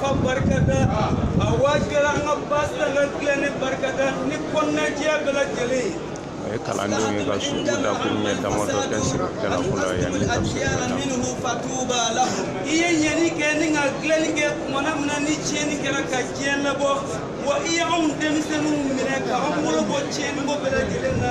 Ka barikada a waatijɛ an ka ba tilen ni barikada ni kɔnɔnajɛya bɛɛ lajɛlen a ye kalandenw ye ka su dakuru ɲɛ damadɔ kɛ sigikɛla fɔlɔ ye yanni tafsiri i ye ɲɛni kɛ ni ka dilanni kɛ tumana min na ni tiɲɛni kɛra ka diɲɛ labɔ wa i ye anw denmisɛnninw minɛ ka anw bolo bɔ tiɲɛni ko bɛɛ lajɛlen na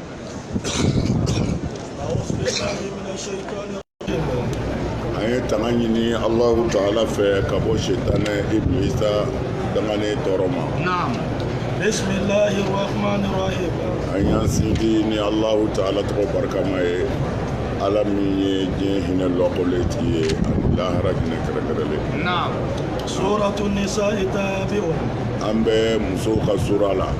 an ye tanga ɲini alahu taala fɛ ka bɔ setanɛ ibilisa dangane tɔɔrɔ ma an y'a sinti ni alahu taala tɔgɔ barikama ye ala min ye diɲɛ hinɛ lɔkɔle tigi ye ani lahara hinɛ kɛrɛkɛrɛlen an bɛ musow ka sura la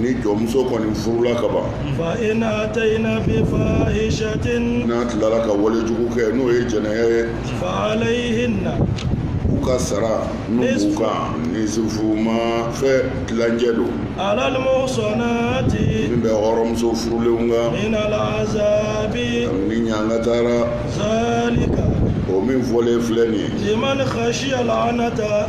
ni jɔnmuso kɔni furula ka ban fa in atayina bi fahisatin n'a tilala ka wale jugu kɛ n'o ye jɛnɛya ye fa alayihina u ka sara min b'u kan nisufu maa fɛn tilancɛ don alal muhusanati min bɛ hɔrɔnmuso furulen kan minal azabi ni ɲangata ra zalika o min fɔlen filɛ nin ye liman hasiyal anata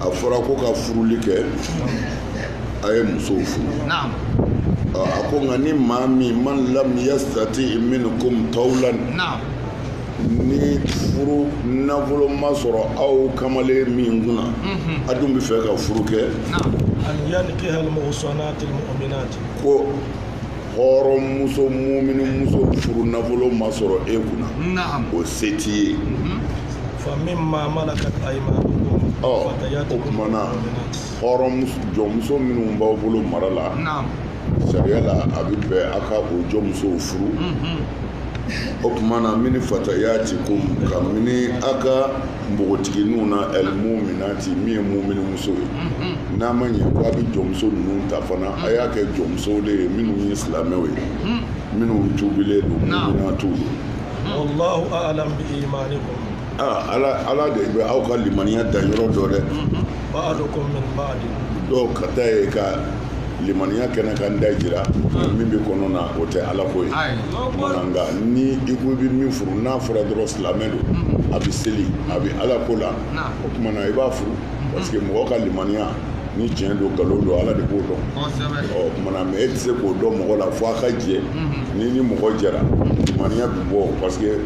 a fɔra ko ka furuli kɛ a ye musow furu a ko nka ni maa min man lam yasitati minkum tawulan ni furu nafolo ma sɔrɔ aw kamalen min kunna mhm. a dun bɛ fɛ ka furu kɛ ko hɔrɔn muso mumini muso furu nafolo ma sɔrɔ e kunna o se t'i ye mhm. fa min maa malakat ayimanukum o tuma na hɔrɔn jɔnmuso minnu b'aw bolo mara la sariya la a bɛ bɛn a ka o jɔnmusow furu mhm. o tuma na min fatayatikum ka minɛ a ka npogotigininw na alimuminati min ye mumini muso ye n'a ma ɲɛ ko a bɛ jɔnmuso ninnu ta fana a y'a kɛ jɔnmusow de ye minnu ye silamɛw ye minnu tuubilen don muminatiw don walahu aalamu bi imanikum ala de bɛ aw ka limaniya danyɔrɔ dɔn dɛ dɔw ka ta ye ka limaniya kɛnɛkanda jira min bɛ kɔnɔna o tɛ ala ko ye nka ni i ko i bɛ min furu n'a fɔra dɔrɔn silamɛ don a bɛ seli a bɛ ala ko la o tuma na i b'a furu parce que mɔgɔ ka limaniya ni tiɲɛ don nkalon don ala de b'o dɔn o tuma na mais e tɛ se k'o dɔn mɔgɔ la fo a ka jɛ n'i ni mɔgɔ jɛra limaniya bɛ bɔ parce que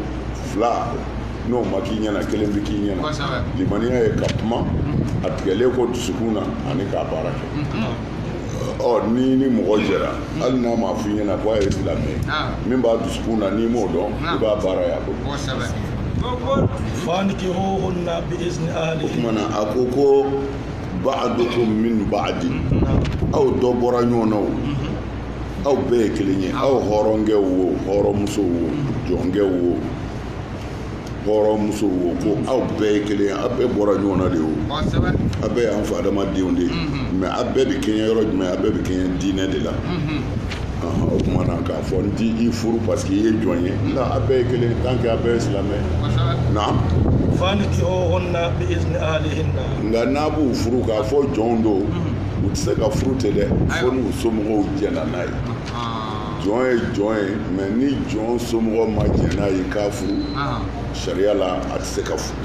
fila n'o ma k'i ɲɛna kelen bɛ k'i ɲɛna limaniya ye ka kuma a tigɛlen ko dusukun na ani k'a baara kɛ ɔ ni ni mɔgɔ jɛra hali n'a ma f'i ɲɛna ko a ye silamɛ min b'a dusukun na n'i m'o dɔn i b'a baara y'a bolo o kuma na a ko ko ba'adukum min ba'din aw dɔ bɔra ɲɔgɔn na o aw bɛɛ ye kelen ye aw hɔrɔnkɛw wo hɔrɔnmusow wo jɔnkɛw wo hɔrɔnmusow wo ko aw bɛɛ ye kelen aw bɛɛ bɔra ɲɔgɔn na de o aw bɛɛ y'an fa adama denw de ye mais aw bɛɛ bɛ kɛɲɛ yɔrɔ jumɛn aw bɛɛ bɛ kɛɲɛ diinɛ de la o tuma na k'a fɔ n t'i furu parce que i ye jɔn ye nka aw bɛɛ ye kelen tant que aw bɛɛ ye silamɛ naam fankihuhunna bi izni ahlihinna nka n'a b'u furu k'a fɔ jɔnw don u tɛ se ka furu ten dɛ fo n'u somɔgɔw jɛnna n'a ye jɔn ye jɔn ye mais ni jɔn somɔgɔ ma jɛn n'a ye k'a furu sariya la a tɛ se ka furu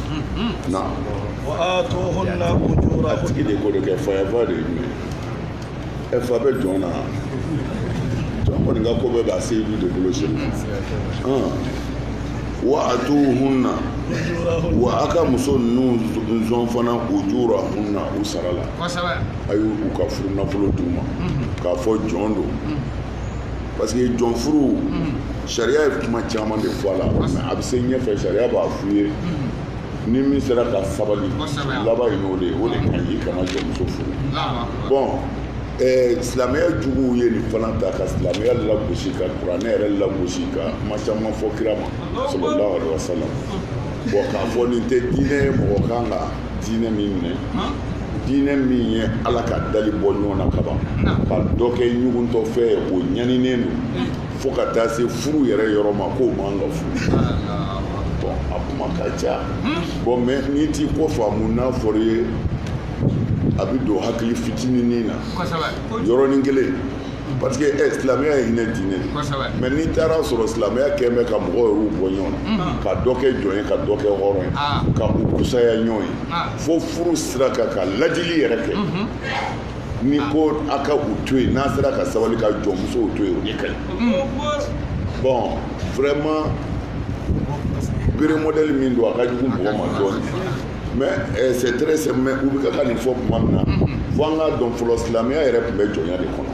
na a tigi de ko de kɛ fayaba de ye jumɛn ye ɛ fa bɛ jɔn na jɔn kɔni ka ko bɛɛ b'a seyidu de bolo sini wa atuhunna wa a ka muso ninnu sɔn fana ujurahunna u sara la a y'u ka furunafolo d'u ma k'a fɔ jɔn don parce que jɔn furu sariya ye kuma caman de fɔ a la mais a bɛ se ɲɛfɛ sariya b'a f'u ye ni min sera ka sabali laban ye n'o de ye o de ka ɲi kana jɔnmuso furu bon eh, silamɛya juguw ye nin fana ta ka silamɛya lagosi ka kuranɛ yɛrɛ lagosi ka kuma caman fɔ kira ma sallallahu alaihi wasallam bon k'a fɔ nin tɛ diinɛ ye mɔgɔ kan ka diinɛ min minɛ diinɛ min ye ala ka dali bɔ ɲɔgɔn na kaban ka dɔ kɛ ɲuguntɔfɛn ye o ɲaninen don fo ka taa se furu yɛrɛ yɔrɔ ma k'o man ka furu bon a kuma ka ca bon mais n'i t'i ko faamu n'a fɔr'i ye a bɛ don hakili fitininin na yɔrɔnin kelen Parce que eh, silamɛya ye hinɛ diinɛ de kosɛbɛ mais n'i taara sɔrɔ silamɛya kɛlen bɛ ka mɔgɔw yɛrɛw bɔ ɲɔgɔn na ka dɔ kɛ jɔn ye ka dɔ kɛ hɔrɔn ye Ah. ka u fusaya ɲɔgɔn ye Ah. fo furu sira kan ka lajili yɛrɛ kɛ ni ko a ka u to yen n'a sera ka sabali ka jɔnmusow to yen o de ka ɲi bon vraiment bere modèle min don a ka jugu mɔgɔ ma dɔɔnin mais eh, c'est très simple mais u bɛ ka nin fɔ tuma min na fo an k'a dɔn fɔlɔ silamɛya yɛrɛ tun bɛ jɔnya de kɔnɔ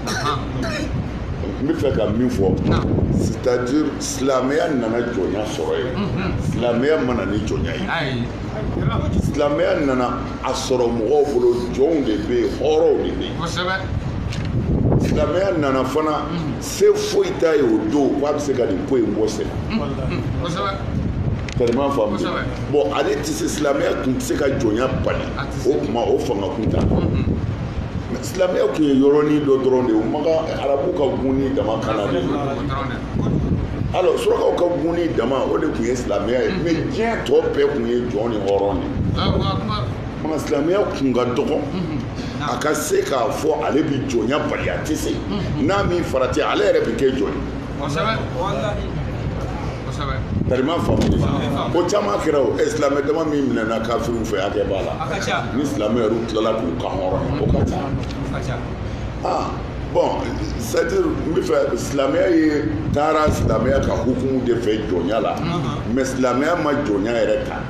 n bɛ fɛ ka min fɔ c'est-à-dire silamɛya nana jɔnya sɔrɔ yen silamɛya ma na ni jɔnya ye silamɛya nana a sɔrɔ mɔgɔw bolo jɔnw de bɛ yen hɔrɔnw de bɛ yen silamɛya nana fana se foyi t'a ye o don k'a bɛ se ka nin ko in bɔ sen tellement faamu bon ale tɛ se silamɛya tun tɛ se ka jɔnya bali o kuma o fanga kun t'a la silamɛya tun ye yɔrɔnin dɔ dɔrɔn de ye o Maka arabu ka gunnin dama kan na de alors surakaw ka gunnin dama o de tun ye silamɛya ye mais diɲɛ tɔ bɛɛ tun ye jɔn ni hɔrɔn de ye fanga silamɛya kun ka dɔgɔ a ka se k'a fɔ ale bɛ jɔnya bali a tɛ se n'a m'i farati ale yɛrɛ bɛ kɛ jɔn ye tariman faamu ko caman kɛra o ɛ silamɛ dama min minɛna kafiriw fɛ hakɛ b'a la ni silamɛ yɛrɛ tilala k'u kanhɔrɔn o ka ca ah bon c'est à dire n bɛ fɛ silamɛya ye taara silamɛya ka hukumu de fɛ jɔnya la mais silamɛya ma jɔnya yɛrɛ ta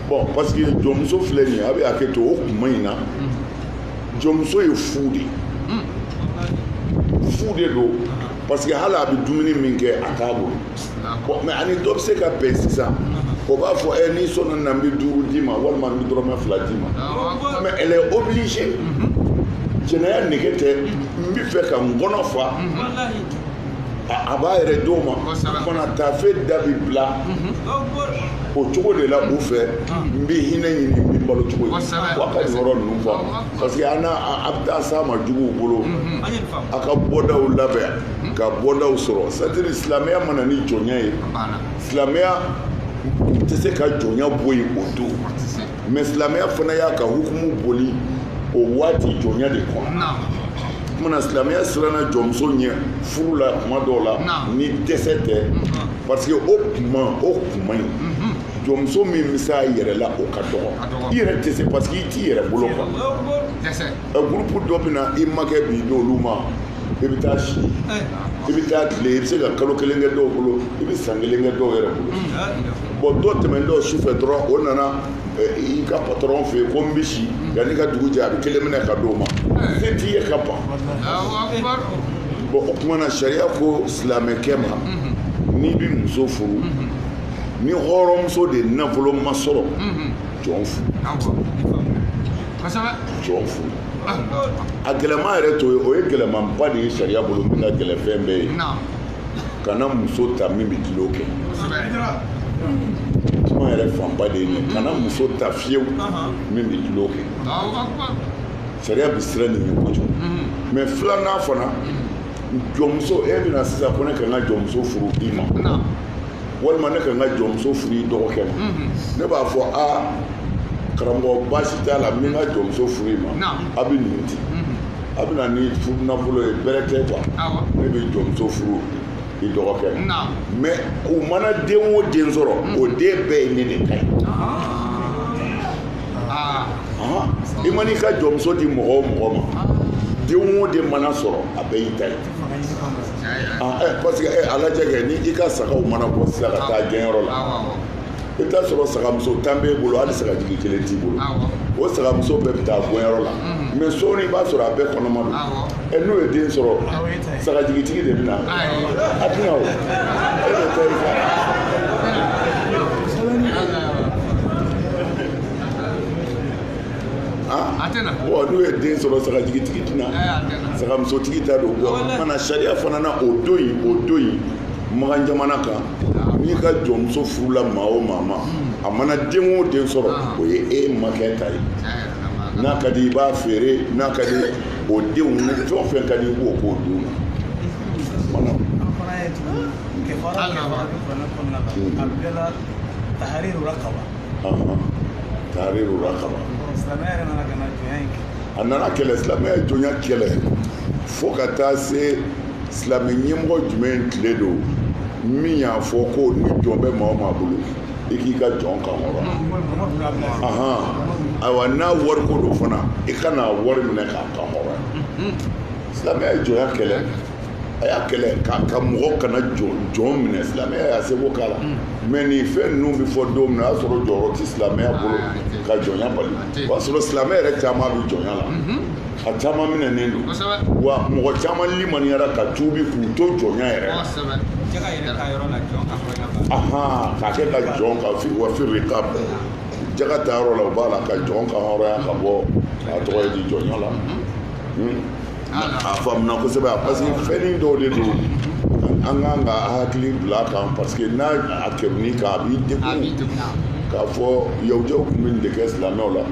bon parce que jɔnmuso filɛ nin ye a bɛ hakɛ to o kuma in na jɔnmuso ye fu de ye fu de don parce que hali a bɛ dumuni min kɛ a t'a bolo bon mais ani dɔ bɛ se ka bɛn sisan o b'a fɔ ɛ n'i sɔnna na n bɛ duuru d'i ma walima n bɛ dɔrɔmɛ fila d'i ma mais elle est obligée jɛnɛya nege tɛ n bɛ fɛ ka n kɔnɔ fa a b'a yɛrɛ di o ma fana taafe da bi bila o cogo de la u fɛ n bɛ hinɛ ɲini n bɛ balo cogo ye wa ka yɔrɔ ninnu faamu parce que an a bɛ taa se maa juguw bolo a ka bɔdaw labɛn ka bɔdaw sɔrɔ c'est à dire silamɛya ma na ni jɔnya ye silamɛya tɛ se ka jɔnya bɔ yen o don mais silamɛya fana y'a ka hukumu boli o waati jɔnya de kɔnɔ kuma na silamɛya siranna jɔnmuso ɲɛ furu la kuma dɔw la ni dɛsɛ tɛ parce que o kuma o kuma in jɔnmuso min bɛ se a yɛrɛ la o ka dɔgɔ i yɛrɛ tɛ se parce que i t'i yɛrɛ bolo quoi ɛ groupe dɔ bɛ na i makɛ b'i d'olu ma i bɛ taa si i bɛ taa tile i bɛ se ka kalo kelen kɛ dɔw bolo i bɛ san kelen kɛ dɔw yɛrɛ bolo bon dɔ tɛmɛntɔ su fɛ dɔrɔn o nana i ka patron fɛ yen ko n bɛ si yanni ka dugu jɛ a bɛ kelen minɛ ka di o ma se t'i ye ka ban bon o tuma na sariya ko silamɛkɛ ma n'i bɛ muso furu ni hɔrɔnmuso de nafolo ma sɔrɔ jɔn furu jɔn furu a gɛlɛma yɛrɛ to ye o ye gɛlɛmanba de ye sariya bolo min ka gɛlɛn fɛn bɛɛ ye kana muso ta min bɛ tulon kɛ kuma yɛrɛ fanba de ye nin kana muso ta fiyewu min bɛ tulon kɛ sariya bɛ siran nin ye kojugu mais filanan fana jɔnmuso e bɛ na sisan ko ne ka n ka jɔnmuso furu i ma walima ne ka n ka jɔnmuso furu i dɔgɔkɛ ma ne b'a fɔ aa karamɔgɔ baasi t'a la n bɛ n ka jɔnmuso furu i ma a bɛ nin di a bɛ na ni furu nafolo ye bɛrɛ tɛ quoi ne bɛ jɔnmuso furu i dɔgɔkɛ ma mais u mana den o den sɔrɔ o den bɛɛ ye ne de ta ye i man'i ka jɔnmuso di mɔgɔ o mɔgɔ ma den o den mana sɔrɔ a bɛɛ y'i ta ye parce que a lajɛ kɛ ni i ka sagaw mana bɔ sisan ka taa gɛnyɔrɔ la i t'a sɔrɔ sagamuso tan b'e bolo hali sagajigi kelen t'i bolo o sagamuso bɛɛ bɛ taa gɛnyɔrɔ la mhm. mais sɔɔni i b'a sɔrɔ a bɛɛ kɔnɔma don ɛ n'u ye den sɔrɔ sagajigitigi de bɛ na a tɛna o e de tɛ i fa bon n'u ye den sɔrɔ sagajigitigi tɛna sagamusotigi ta don bamanan sariya fana na o don yen o don yen makan jamana kan n'i ka jɔnmuso furula maa o maa ma a mana den o den sɔrɔ ah. o ye e makɛ ta ye n'a ka di i b'a feere n'a ka di o denw ni fɛn o fɛn ka di i b'o k'o d'u ma mana tahariru rakaba tahariru rakaba silamɛya yɛrɛ nana ka na jɔnya in kɛ a nana kɛlɛ silamɛya jɔnya kɛlɛ fo ka taa se silamɛ ɲɛmɔgɔ jumɛn tile don min y'a fɔ ko ni jɔn bɛ maa o maa bolo i k'i ka jɔn kan hɔrɔn ahan ayiwa n'a wari ko don fana i kana wari minɛ k'a kan hɔrɔn silamɛya ye jɔnya kɛlɛ a y'a kɛlɛ ka mɔgɔ kana jɔn minɛ silamɛya y'a seko k'a la mais nin fɛn ninnu bɛ fɔ don min na o y'a sɔrɔ jɔyɔrɔ tɛ silamɛya bolo ka jɔnya bali o y'a sɔrɔ silamɛ yɛrɛ caman bɛ jɔnya la a caman minɛnen don wa mɔgɔ caman limaniyara ka tuubi k'u to jɔnya yɛrɛ la k'a kɛ ka jɔn ka wa firikabi jaka ta yɔrɔ la o b'a la ka jɔn kan hɔrɔnya ka bɔ a tɔgɔ ye di jɔnya la hmm? a faamuna kosɛbɛ a parce que fɛnnin dɔw de don an kan ka hakili bila a kan parce que n'a a kɛruni kan a b'i degun k'a fɔ yahudiyaw tun bɛ nin de kɛ silamɛw la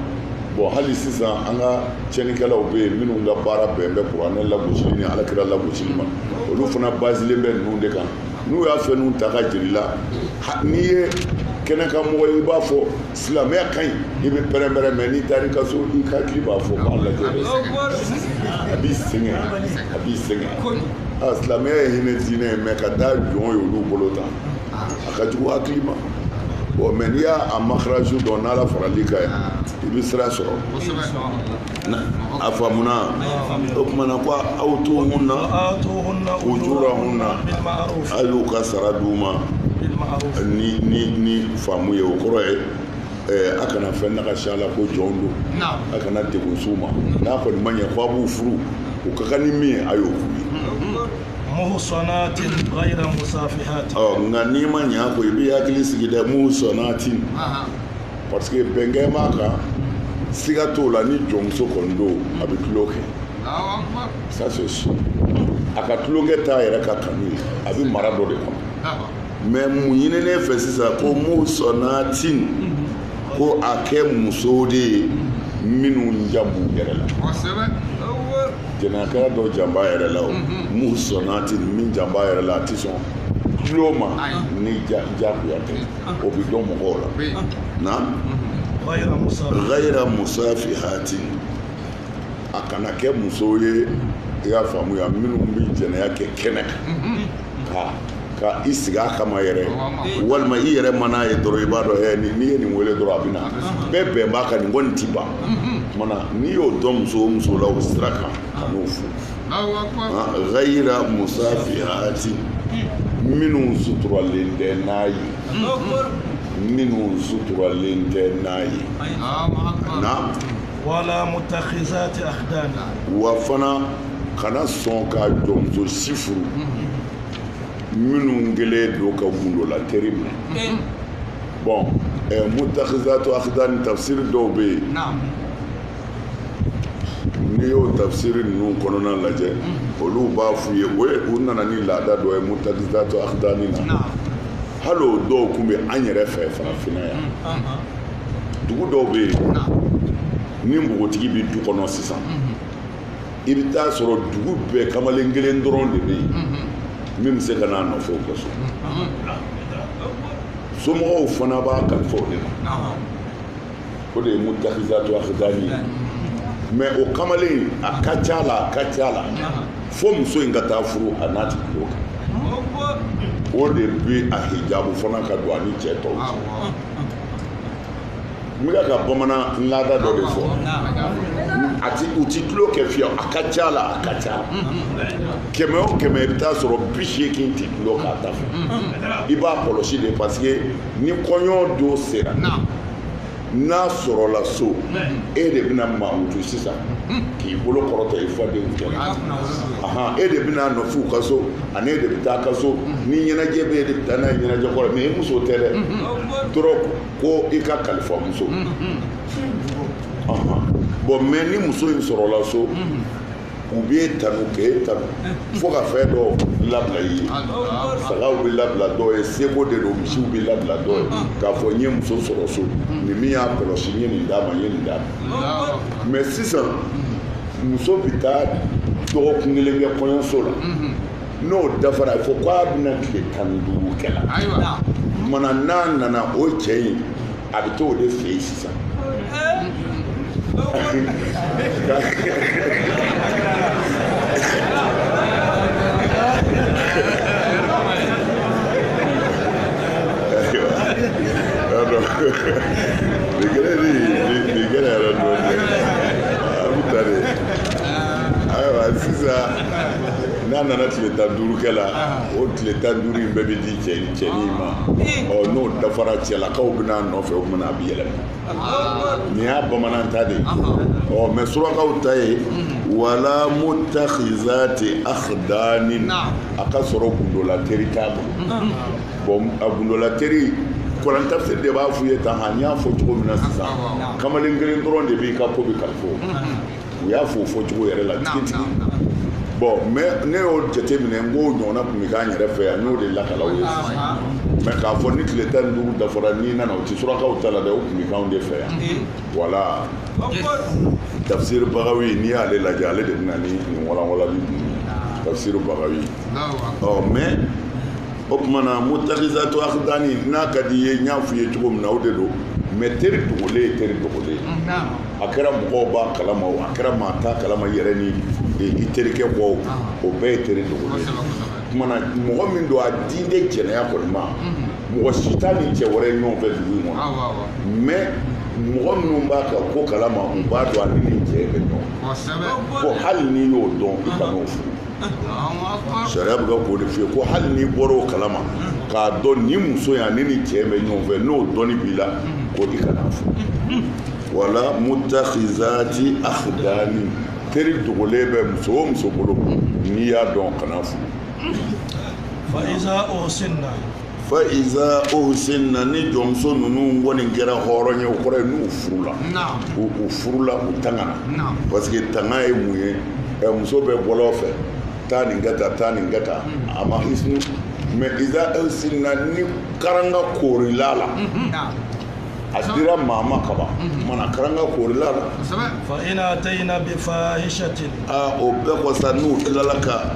bon hali sisan an ka cɛnnikɛlaw bɛ yen minnu ka baara bɛn bɛ kuranɛ lagosili ni ala kira lagosili ma olu fana basilen bɛ ninnu de kan n'u y'a fɛnw ta k'a jir'i la n'i ye kɛnɛkanmɔgɔ ye i b'a fɔ silamɛya ka ɲi i bɛ pɛrɛnpɛrɛn mais n'i taar'i ka so i hakili b'a fɔ k'a lajɛ a b'i sɛgɛn a b'i sɛgɛn a silamɛya ye hinɛ diinɛ ye mais ka taa jɔn ye olu bolo tan a ka jugu hakili ma bon mais n'i y'a a makaraju dɔn n'ala faral'i kan ye i bɛ sira sɔrɔ a faamuna o tuma na ko wa atuhunna ujurahunna a y'u ka sara d'u ma ni ni ni faamu ye o kɔrɔ ye eh, a kana fɛn nagasi a la ko jɔnw don a kana degun s'u ma n'a kɔni ma ɲɛ ko a b'u furu u ka kan ni min ye a y'o k'u ye muhsanatin ghayra musafihatin ɔ nka n'i ma ɲɛ a ko i b'i hakili sigi dɛ muhsanatin parce que bɛnkɛ b'a kan siga t'o la ni jɔnmuso kɔni don a bɛ tulon kɛ ça c'est sûr a ka tulonkɛ t'a yɛrɛ ka kanu ye a bɛ mara dɔ de kɔnɔ mais mun ɲininen fɛ sisan ko muhsanatin ko a kɛ musow de ye minnu jan b'u yɛrɛ la jɛnɛya dɔ jan b'a yɛrɛ la o muhsanatin min jan b'a yɛrɛ la a tɛ sɔn tulon ma ni jagoya tɛ o bɛ dɔn mɔgɔw la naam ghayra musafihatin a kana kɛ musow ye i y'a faamuya minnu bɛ jɛnɛya kɛ kɛnɛ kan ka i sigi a kama yɛrɛ walima i yɛrɛ man'a ye dɔrɔn i b'a dɔn ɛ n'i ye nin wele dɔrɔn a bɛ na bɛɛ bɛn b'a kan nin kɔni ti ban maa na n'i y'o dɔn muso o muso la o sira kan kan'o furu ghayra musafihatin minnu suturalen tɛ n'a ye minnu suturalen tɛ n'a ye na wala mutakhizati akhdan wa fana kana sɔn ka jɔnmuso si furu minnu kɛlen don ka gundo la teri minɛ bon mutakhizatu akhdan tafsir dɔw bɛ yen n'i y'o tafsiri ninnu kɔnɔna lajɛ olu b'a f'u ye o ye u nana ni laada dɔ ye mutakhizatu akhdani na hali o dɔw tun bɛ an yɛrɛ fɛ farafinna yan dugu dɔw bɛ yen ni npogotigi bɛ du kɔnɔ sisan i bɛ t'a sɔrɔ dugu bɛɛ kamalen kelen dɔrɔn de bɛ yen min bɛ se ka n'a nɔfɛ o ka so somɔgɔw fana b'a kalifa o de ma o de ye mutakhizatu akhdani ye mais o kamalen a ka ca la a ka ca la fo muso in ka taa furu a n'a ti tulon kɛ o de bɛ a hijabu fana ka don a ni cɛ tɔw cɛ n bɛ ka bamanan laada dɔ de fɔ a ti u ti tulon kɛ fiyewu a ka ca la a ka ca la kɛmɛ o kɛmɛ i bɛ t'a sɔrɔ bi seegin tɛ tulon k'a ta fɛ i b'a kɔlɔsi de parce que ni kɔɲɔ don sera n'a sɔrɔla so e de bɛna mamutu sisan k'i bolo kɔrɔta i fadenw cɛla e de bɛna nɔfɛ u ka so ani e de bɛ taa ka so ni ɲɛnajɛ bɛ e de bɛ taa n'a ye ɲɛnajɛ kɔrɔ mɛ e muso tɛ dɛ dɔrɔn ko i ka kalifa muso bɔn mɛ ni muso in sɔrɔla so u b'e tanu k'e tanu fo ka fɛn dɔ labila i ye sagaw bɛ labila dɔw ye seko de don misiw bɛ labila dɔw ye k'a fɔ n ye muso sɔrɔ so nin min y'a kɔlɔsi n ye nin d'a ma n ye nin d'a ma mɛ sisan muso bɛ taa dɔgɔkun kelen kɛ kɔɲɔso la n'o dafara a fɔ k'a bɛna tile tan ni duuru kɛ la mana n'a nana o cɛ in a bɛ t'o de fɛ yen sisan nin kɛra de nin kɛra yɛrɛ dɔɔnin a bɛ ta de ayiwa sisan n'a nana tile tan duuru kɛ la o tile tan duuru in bɛɛ bɛ di cɛ in cɛnin ma ɔ n'o dafara cɛlakaw bɛna nɔfɛ o kumana a bɛ yɛlɛma nin y'a bamanan ta de ye ɔ mɛ surakaw ta ye wala mutakhizati akhdanin a k'a sɔrɔ gundola teri t'a bolo bɔn a gundola teri kuran tafsir de b'a f'u ye tan nka n y'a fɔ cogo min na sisan kamalen kelen dɔrɔn de b'i ka ko bɛɛ kalifa u y'a fɔ o fɔ cogo yɛrɛ la tigitigi bɔn mɛ ne y'o jate minɛ n k'o ɲɔgɔnna tun bɛ k'an yɛrɛ fɛ yan n'o de lakal'aw ye mɛ k'a fɔ ni tile tan ni duuru dafara n'i nana o tɛ surakaw ta la dɛ o tun bɛ k'anw de fɛ yan wala tafsiri bagawi n'i y'ale lajɛ ale de bɛ na ni nin walanwalali ninnu ye tafsiri bagawi ɔ mɛ o kumana mutakhizatu akhdani n'a ka di i ye n y'a f'i ye cogo min na o de don mɛ teri dogolen ye teri dogolen ye a kɛra mɔgɔw b'a kalama o a kɛra maa t'a kalama i yɛrɛ ni i terikɛ kɔ o o bɛɛ ye teri dogolen ye kumana mɔgɔ min don a diinde jɛnɛya kɔni ma mhm. mɔgɔ si t'a ni cɛ wɛrɛ ye ɲɔgɔn fɛ dugu in kɔnɔ mɛ mɔgɔ minnu b'a ka ko kalama u b'a dɔn ale ni cɛ bɛ ɲɔgɔn fɛ hali n'i y'o dɔn i kan'o furu sariya bɛ ka k'o de f'i ye ko hali n'i bɔra o kalama k'a dɔn nin muso yan nin ni cɛ bɛ ɲɔgɔn fɛ n'o dɔnni b'i la ko i kan'a furu wala mutakhizati akhdani teri dogolen bɛ muso o muso bolo n'i y'a dɔn kan'a furu fa iza uhsinna fa iza uhsinna ni jɔnmuso ninnu kɔni kɛra hɔrɔn ye o kɔrɔ ye n'u furula u furula u tangana parce que tanga ye mun ye muso bɛ bɔlɔn fɛ taa nin ka taa taa nin ka taa a ma hisnu mais iza uhsinna ni karanga koorila la a dira maa ma kaban mana karanga koorila la fa in atayna bi fahishatin aa o bɛɛ kɔsa n'u tilala ka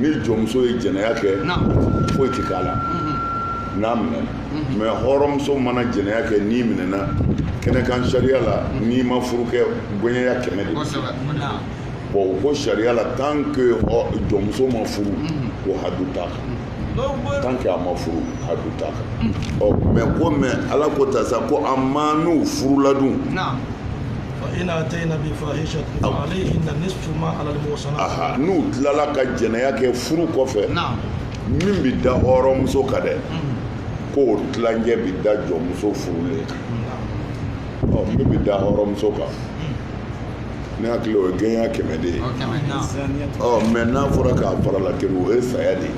ni jɔnmuso ye jɛnɛya kɛ foyi tɛ k'a la n'a minɛna mais hɔrɔnmuso mana jɛnɛya kɛ n'i minɛna kɛnɛ kan sariya la n'i ma furu kɛ gɛɲɛ ɲa kɛmɛ de b'o ko sariya la tant que jɔnmuso ma furu ko hadu t'a kan tant que a ma furu hadu t'a kan ɔ mais comme ala ko ta sa ko a ma n'u furula dun n'u tilala ka jɛnɛya kɛ furu kɔfɛ min bɛ da hɔrɔnmuso kan dɛ k'o tilancɛ bɛ da jɔnmuso furulen kan min bɛ da hɔrɔnmuso kan ne hakili o ye gɛɲɛ kɛmɛ de ye ɔ mais n'a fɔra k'a farala kelen o ye saya de ye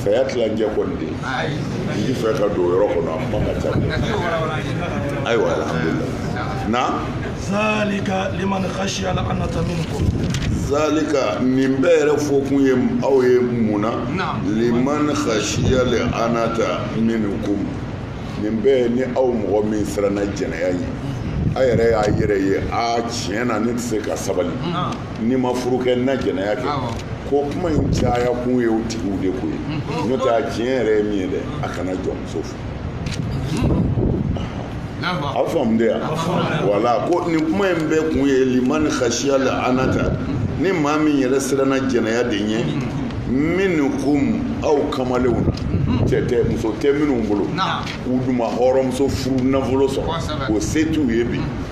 saya tilancɛ kɔni de n ti fɛ ka don o yɔrɔ kɔnɔ a kuma ka ca ayiwa alhamdulillah na zalika liman khashiya al-anata minkum zalika nin bɛɛ yɛrɛ fɔkun ye aw ye mun na liman khashiya al-anata minkum nin bɛɛ ni aw mɔgɔ min siranna jɛnɛya ye a yɛrɛ y'a yɛrɛ ye a tiɲɛ na ne tɛ se ka sabali ni n ma furu kɛ n na jɛnɛya kɛ ko kuma in caya kun ye o tigiw de ko ye n'o tɛ a tiɲɛ yɛrɛ ye min ye dɛ a kana jɔnmuso furu a faamu de yan wala ko nin kuma in bɛɛ kun ye liman khashiya al-anata ni maa min yɛrɛ siranna jɛnɛya de ɲɛ minkum aw kamalenw na cɛ tɛ muso tɛ minnu bolo k'u dun ma hɔrɔnmuso furu nafolo sɔrɔ o se t'u ye bi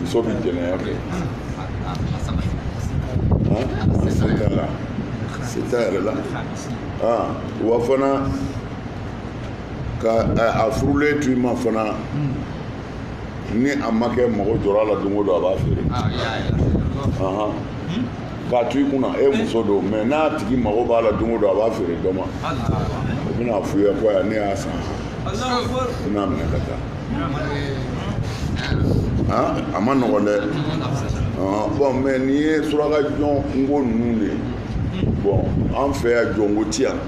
muso bɛ jɛnɛya kɛ se t'a la se t'a yɛrɛ la wa fana ka a furulen to i ma fana ni a makɛ mago jɔra a la don o don a b'a feere k'a to i kunna e muso don mais n'a tigi mago b'a la don o don a b'a feere dɔ ma o bɛn'a f'u ye ko ne y'a san n bɛn'a minɛ ka taa a ma nɔgɔn dɛ bon mais nin ye suraka jɔnko ninnu de ye bon an fɛ yan jɔnko ti yan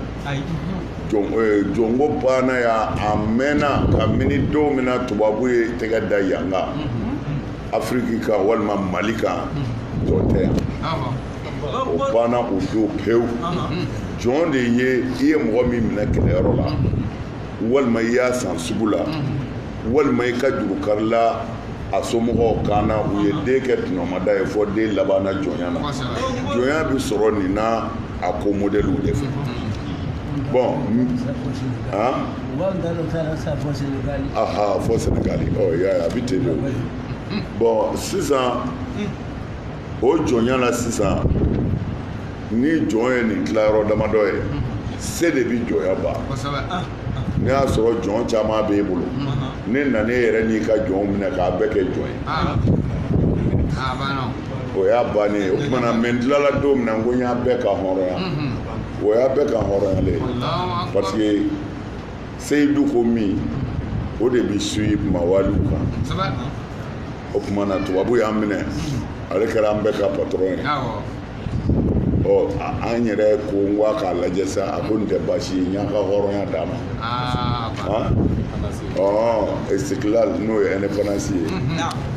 jɔnko banna yan a mɛnna kamini don min na tubabu ye tɛgɛ da yan kan afiriki kan walima mali kan jɔn tɛ yan o banna o don pewu jɔn de ye i ye mɔgɔ min minɛ kɛlɛyɔrɔ la walima i y'a san sugu la walima i ka juru karila a somɔgɔw kan na u ye den kɛ tɔnɔmada ye fɔ den labanna jɔnya na jɔnya bɛ sɔrɔ nin na a ko modèle de fɛ bon aha fɔ senegali ɔ y'a ye a bɛ ten de bon sisan o jɔnya la sisan ni jɔn ye nin tilayɔrɔ damadɔ ye se de bɛ jɔnya ban ne y'a sɔrɔ jɔn caman b'e bolo ne nana e yɛrɛ n'i ka jɔnw minɛ k'a bɛɛ kɛ jɔn ye o y'a bannen ye o tuma na mais n tilala don min na n ko n y'a bɛɛ kanhɔrɔnya o y'a bɛɛ kanhɔrɔnyalen ye parce que seyidu ko min o de bɛ suyi mawaliw kan o tuma na tubabu y'an minɛ ale kɛra an bɛɛ ka patɔrɔn ye ɔ an yɛrɛ ko n ko a k'a lajɛ sa a ko nin tɛ baasi ye n y'a ka hɔrɔnya d'a ma ɔ istiklal n'o ye indépendance ye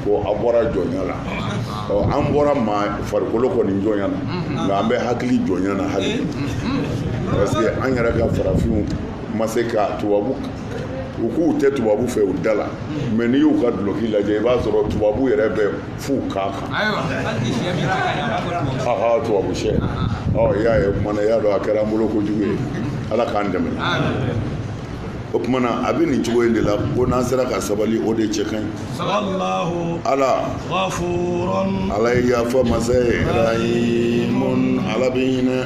ko a bɔra jɔnya la ɔ an bɔra maa farikolo kɔni jɔnya na nka an bɛ hakili jɔnya na hali parce que an yɛrɛ ka farafinw ma se ka tubabu u k'u tɛ tubabu fɛ u da la mais n'i y'u ka duloki lajɛ i b'a sɔrɔ tubabu yɛrɛ bɛ f'u kan kan tubabu sɛ i y'a ye o kumana i y'a dɔn a kɛra an bolo kojugu ye ala k'an dɛmɛ o kumana a bɛ nin cogo in de la ko n'an sera ka sabali o de cɛ ka ɲi wallahu ghafurun ala ye yafa masa ye rahimun ala bɛ hinɛ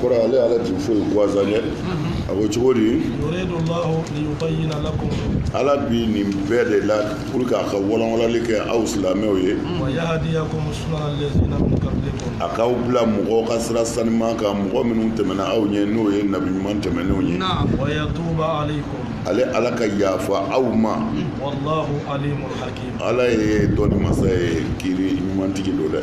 kɔrɔ ale ala tun foyi gansan ye a ko cogo di ala bi nin bɛɛ de la pour que a ka walanwalali kɛ aw silamɛw ye a k'aw bila mɔgɔw ka sira sanima kan mɔgɔ minnu tɛmɛna aw ɲɛ n'o ye nabi ɲuman tɛmɛnenw ye ale ala ka yafa aw ma ala ye dɔnni masa ye kiri ɲumantigi don dɛ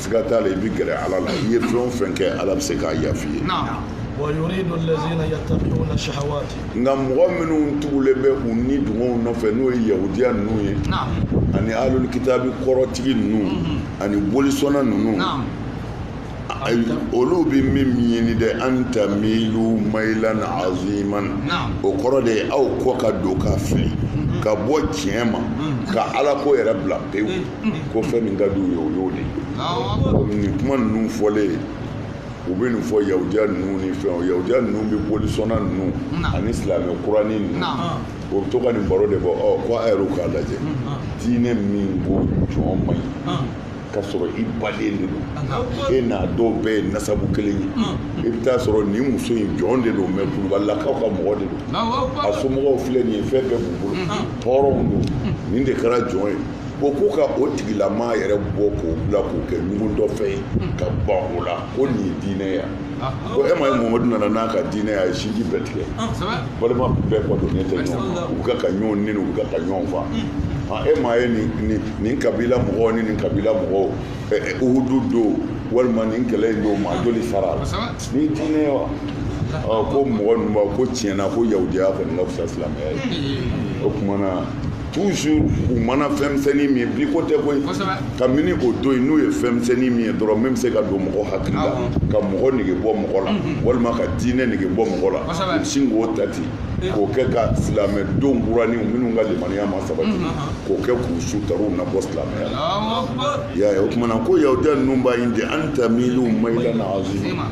siga t'a la i bɛ gɛrɛ ala la i ye fɛn o fɛn kɛ ala bɛ se k'a yafa i ye nka mɔgɔ minnu tugulen bɛ u ni dungɔw nɔfɛ n'o ye yahudiya ninnu ye ani alul kitabi kɔrɔtigi ninnu mhm. ani bolisɔnna ninnu olu bɛ min ɲini dɛ an tamilu mayilan aziman o kɔrɔ de ye aw kɔ ka don ka fili mhm. ka bɔ tiɲɛ ma mhm. ka ala ko yɛrɛ bila pewu ko fɛn min ka di u ye o y'o de ye nin kuma ninnu fɔlen u bɛ nin fɔ yahudiya ninnu ni fɛnw yahudiya ninnu bɛ bolisɔnna ninnu ani silamɛ kurani ninnu u bɛ to ka nin baro de bɔ ɔ ko a yɛrɛw k'a lajɛ diinɛ min ko jɔn man ɲi ka sɔrɔ i baden de don e n'a dɔw bɛɛ ye nasabu kelen ye i bɛ taa sɔrɔ nin muso in jɔn de don mais kulubalilakaw ka mɔgɔ de don a somɔgɔw filɛ nin ye fɛn bɛɛ b'u bolo hɔrɔnw don nin de kɛra jɔn ye ko k'u ka o tigilama yɛrɛ bɔ k'o bila k'o kɛ ɲugu dɔ fɛ ye ka ban o la ko nin ye diinɛ ye ko e ma ye mamadu nana n'a ka diinɛ ye a ye sinji bɛɛ tigɛ balima bɛɛ kɔdonnen bɛ ɲɔgɔn ma u bɛ ka ɲɔgɔn neni u bɛ ka ɲɔgɔn fa e ma ye nin kabila mɔgɔw ni nin kabila mɔgɔw uhudu don walima nin kɛlɛ in don maa joli sara a la nin diinɛ ye wa ko mɔgɔ ninnu ko tiɲɛ na ko yahudiya kɔni ka fisa silamɛya ye o tuma na toujours u mana fɛnmisɛnnin min ye bi ko tɛ koyi kabini o don yen n'u ye fɛnmisɛnnin min ye dɔrɔn min bɛ se ka don mɔgɔ hakili la ka mɔgɔ nege bɔ mɔgɔ la mhm. walima ka diinɛ nege bɔ mɔgɔ la u sin k'o ta ten eh. k'o kɛ ka silamɛden kuraniw minnu ka limaniya ma sabati mhm. k'o kɛ k'u su taruw na bɔ silamɛya la i y'a ye o tuma na ko yahudiya ninnu b'a ɲini de an tamilu mayilan aziman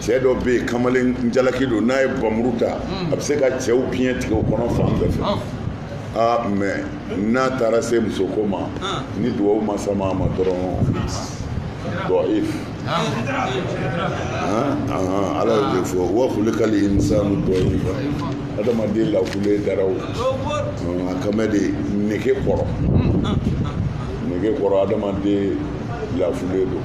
cɛ dɔ bɛ yen kamalen jalaki don n'a ye bamuru ta a bɛ se ka cɛw biɲɛ tigɛ u kɔnɔ fan bɛɛ fɛ aa mais n'a taara se musoko ma ni dugawu ma sama a ma dɔrɔn dɔif ala y'o de fɔ wa kulikali insanu dɔif adamaden lafulen dara wo a kama de nege kɔrɔ nege kɔrɔ adamaden lafulen don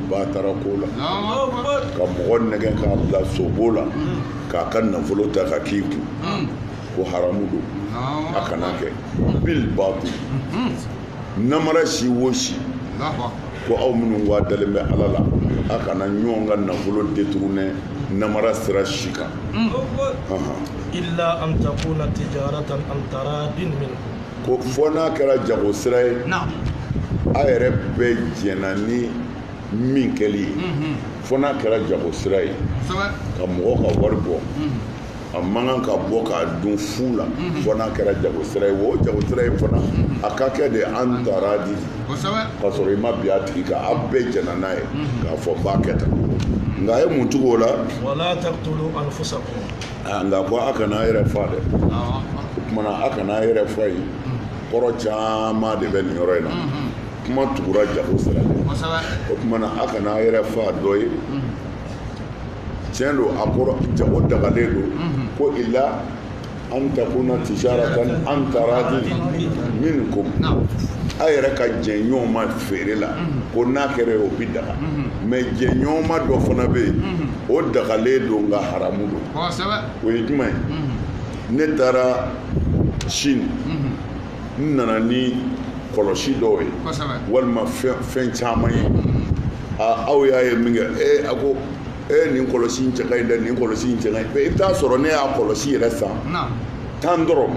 batarako la ka mɔgɔ nɛgɛ k'a bila sobo la k'a ka nafolo ta k'a k'i kun ko haramu don a kana kɛ bil batil namara si wo si ko aw minnu wa dalen bɛ ala la a kana ɲɔgɔn ka nafolo détourner namara sira si kan illa an takuna tijaratan an taradin minkum ko fɔ n'a kɛra jago sira ye a yɛrɛ bɛ jɛna ni min kɛli ye mhm. fɔ n'a kɛra jago sira ye ka mɔgɔ ka wari bɔ mhm. a man kan ka bɔ k'a dun fu la mhm. fɔ n'a kɛra jago sira ye o jago sira ye fana a ka kɛ de an taradi ka sɔrɔ i ma bin a tigi kan a bɛɛ jɛna n'a ye k'a fɔ n b'a kɛ tan nka a ye mun tugu o la nka ko a kana a yɛrɛ fa dɛ o kumana a kana a yɛrɛ fa ye kɔrɔ caman de bɛ nin yɔrɔ in na kuma tugura jago sira de o kumana a kana a yɛrɛ fa dɔ ye tiɲɛ don a kɔrɔ jago dagalen don ko ila an takuna tijaratan an taradi minkum a yɛrɛ ka jɛn ɲɔgɔn ma feere la ko n'a kɛra o bi daga mais jɛn ɲɔgɔn ma dɔ fana bɛ yen o dagalen don nka haramu don o ye jumɛn ye ne taara chine n nana ni kɔlɔsi dɔw ye walima fɛn caman ye aw y'a ye min kɛ ee a ko ee nin kɔlɔsi in cɛ ka ɲi dɛ nin kɔlɔsi in cɛ ka ɲi i bɛ t'a sɔrɔ ne y'a kɔlɔsi yɛrɛ san tan dɔrɔn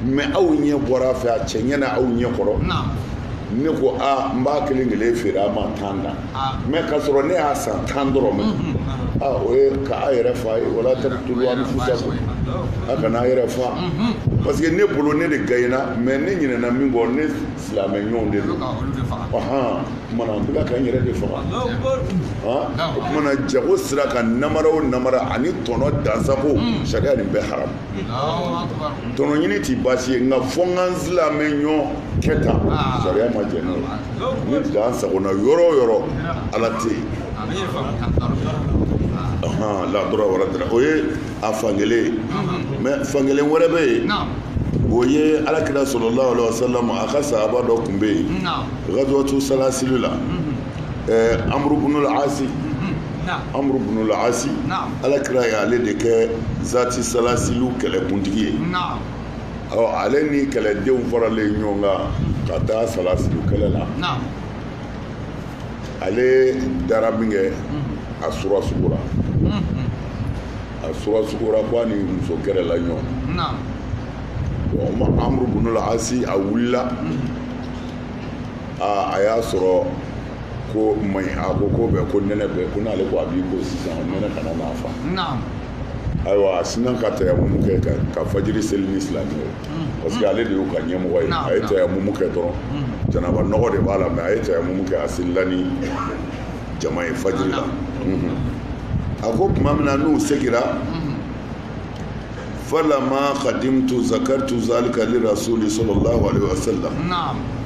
mais aw ɲɛ bɔra a fɛ a cɛ ɲɛna aw ɲɛ kɔrɔ ne ko aa n b'a kelen kelen feere a ma tan na mais ka sɔrɔ ne y'a san tan dɔrɔn ma o ye ka a yɛrɛ fa ye wala taqtulu anfusakum a kana a yɛrɛ fa parce que ne bolo ne de gayina mais ne ɲinɛna min kɔ ne silamɛ ɲɔgɔn de don ɔɔn kumana n bɛ ka n yɛrɛ de faga o kumana jago sira ka namara o namara ani tɔnɔ dansago sariya nin bɛɛ haram tɔnɔ ɲini ti baasi ye nka fɔ n ka n silamɛ ɲɔgɔn kɛ tan sariya ma jɛn n'o ye ni dan sagona yɔrɔ o yɔrɔ ala tɛ yen la darara wala dirara o ye a fan kelen ye mais fan kelen wɛrɛ bɛ yen o ye ala kira sallallahu alaihi wasallam a ka sahaba dɔ tun bɛ yen gazwatu salasili la amuru bunu la asi amuru bunu la asi ala kira y'ale de kɛ zati salasiliw kɛlɛkuntigi ye ɔ ale ni kɛlɛdenw faralen ɲɔgɔn kan ka taa salasili kɛlɛ la naam ale dara min kɛ a sura sugura a sura sugura ko a ni muso kɛrɛla ɲɔgɔn naam ɔ ma amuru bunu la asi a wulila aa a y'a sɔrɔ ko maɲi a ko ko bɛ ko nɛnɛ bɛ ko n'ale ko a b'i ko sisan nɛnɛ kana n'a fa naam ayiwa a sinna ka tayamumu kɛ ka ka fajiri seli ni silamɛw ye parce que ale de y'u ka ɲɛmɔgɔ ye a ye tayamumu kɛ dɔrɔn janaba nɔgɔ de b'a la mais a ye tayamumu kɛ a selila ni jama ye fajiri la a ko tuma min na n'u segira falama kadimtu zakartu zalika li rasuli sallallahu alaihi wasallam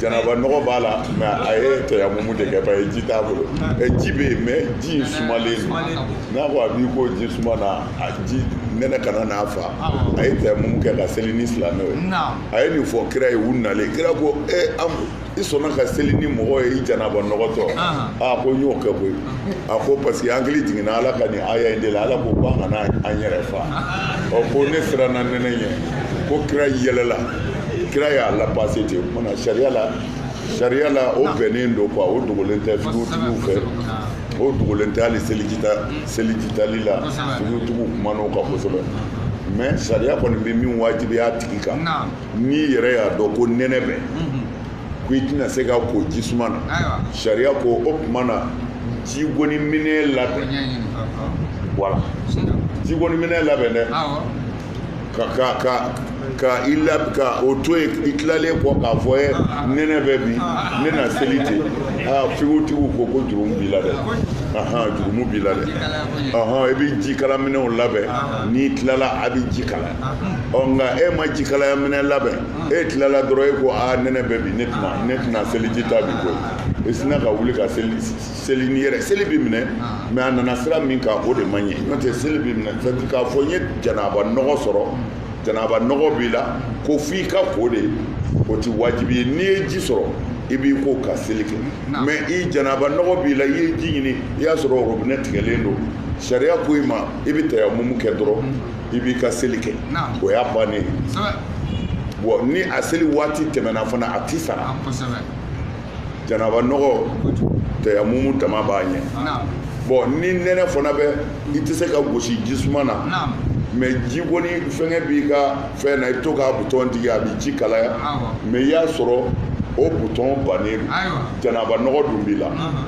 Janaba nɔgɔ b'a la mais a ye tayamumu de kɛ parce que ji t'a bolo ji bɛ yen mais ji sumalen don n'a ko a b'i ko ji suma na a ji nɛnɛ kana n'a fa a ye tayamumu kɛ ka seli ni silamɛw ye a ye nin fɔ kira ye u nalen kira ko e i sɔnna ka seli ni mɔgɔ ye i janaba nɔgɔtɔ aa ko n y'o kɛ koyi a ko parce que n hakili jiginna ala ka nin aya in de la ala ko ko an kana an yɛrɛ fa ɔ ko ne siranna nɛnɛ ɲɛ ko kira yɛlɛla kira y'a lapase ten o tuma na sariya la sariya la o bɛnnen don quoi o dogolen tɛ figutigiw fɛ o dogolen tɛ hali selijita selijitali la figutigiw kuman'o kan kosɛbɛ mais sariya kɔni bɛ min wajibiya a tigi kan n'i yɛrɛ y'a dɔn ko nɛnɛ bɛ ko i tɛna se ka ko jisuma na sariya ko o tuma na jigoni minɛn labɛn voilà jigoni minɛn labɛn dɛ ka o to yen i tilalen kɔ k'a fɔ ye nɛnɛ bɛ bi ne na seli ten aa figutigiw ko ko jurumu b'i la dɛ ahan jurumu b'i la dɛ ahan i bɛ jikala minɛnw labɛn n'i tilala a bɛ ji kalaya nka e ma jikalaya minɛn labɛn e tilala dɔrɔn e ko a nɛnɛ bɛ bi ne tɛna ne tɛna seliji ta bi koyi i sinna ka wuli ka seli seli ni yɛrɛ seli bi minɛ mais a nana sira min kan o de ma ɲɛ n'o tɛ seli bi minɛ k'a fɔ n ye janaba nɔgɔ sɔrɔ janaba nɔgɔ b'i la ko f'i ka ko de o ti wajibi ye n'i ye ji sɔrɔ i b'i ko ka seli kɛ mais i janaba nɔgɔ b'i la i ye ji ɲini i y'a sɔrɔ robinɛ tigɛlen don sariya ko i ma i bɛ tayamumu kɛ dɔrɔn i b'i ka seli kɛ o y'a bannen ye bon ni a seli waati tɛmɛna fana a ti sara ah, janaba nɔgɔ tayamumu dama b'a ɲɛ bon ni nɛnɛ fana bɛ i tɛ se ka gosi jisuma na mais jigoni fɛngɛ b'i ka fɛn na i bɛ to k'a butɔn digi a bɛ ji kalaya mais i y'a sɔrɔ o butɔn bannen janaba nɔgɔ dun b'i la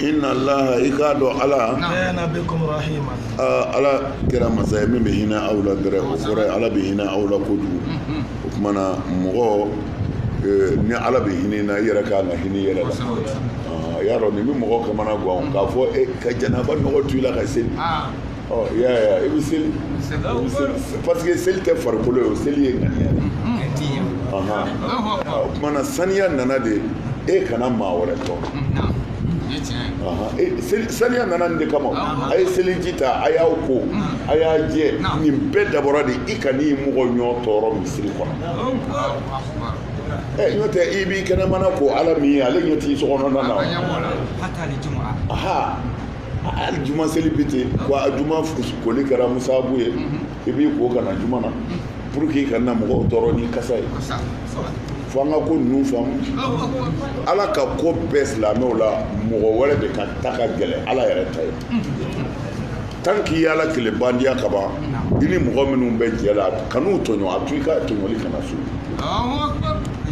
inna laha i k'a dɔn ala ala kɛra masa ye min bɛ hinɛ aw la dɛrɛ o kɔrɔ ye ala bɛ hinɛ aw la kojugu o tuma na mɔgɔ ni ala bɛ hinɛ na i yɛrɛ kan ka hinɛ i yɛrɛ la y'a dɔn nin bɛ mɔgɔ kamana gan k'a fɔ ka janaba nɔgɔ to i la ka seli i bɛ seli parce que seli tɛ farikolo ye o seli ye ŋaniya de o tumana saniya nana de e kana maa wɛrɛ tɔɔrɔ saniya nana nin de kama a ye seliji ta a y'aw ko a y'a jɛ nin bɛɛ dabɔra de i kan'i mɔgɔ ɲɔ tɔɔrɔ misiri kɔnɔ ɛ n'o tɛ i b'i kɛnɛmana ko ala min ye ale ɲɛ t'i sokɔnɔna na hali juma seli bɛ ten wa a juma koli kɛra musabu ye i b'i ko ka na juma na pour que i kana mɔgɔw tɔɔrɔ ni kasa ye fo an ka ko ninnu faamu ala ka ko bɛɛ silamɛw la mɔgɔ wɛrɛ de ka ta ka gɛlɛn ala yɛrɛ ta ye tant qu'i y'ala kelen bandiya ka ban i ni mɔgɔ minnu bɛ jɛ la kan'u tɔɲɔ a to i ka tɔɲɔli kana so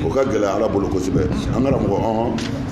o ka gɛlɛn ala bolo kosɛbɛ an kana mɔgɔ ɔhɔn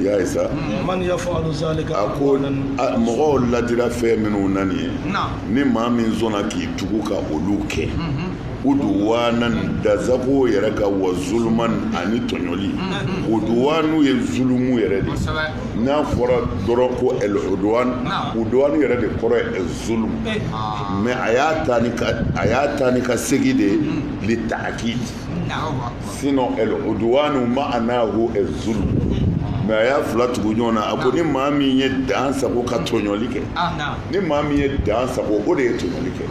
i y'a ye sa man yafalu zalika a ko n- a- mɔgɔw ladira fɛn minnu na nin ye ni maa min sɔnna k'i tugu ka olu kɛ uduwanan dan sago yɛrɛ ka wa zuluman ani tɔɲɔli uduwanu ye zulumu yɛrɛ de ye. kosɛbɛ n'a fɔra dɔrɔn ko el uduwan Naam. uduwan yɛrɛ de kɔrɔ ye el zulum mais a y'a ta ni ka a y'a ta ni ka segi de li taakid sinon el uduwanu maanahu zulum mais a y'a fila tugu ɲɔgɔn na a ko ni maa min ye dan sago ka tɔɲɔli kɛ ni maa min ye dan sago o de ye tɔɲɔli kɛ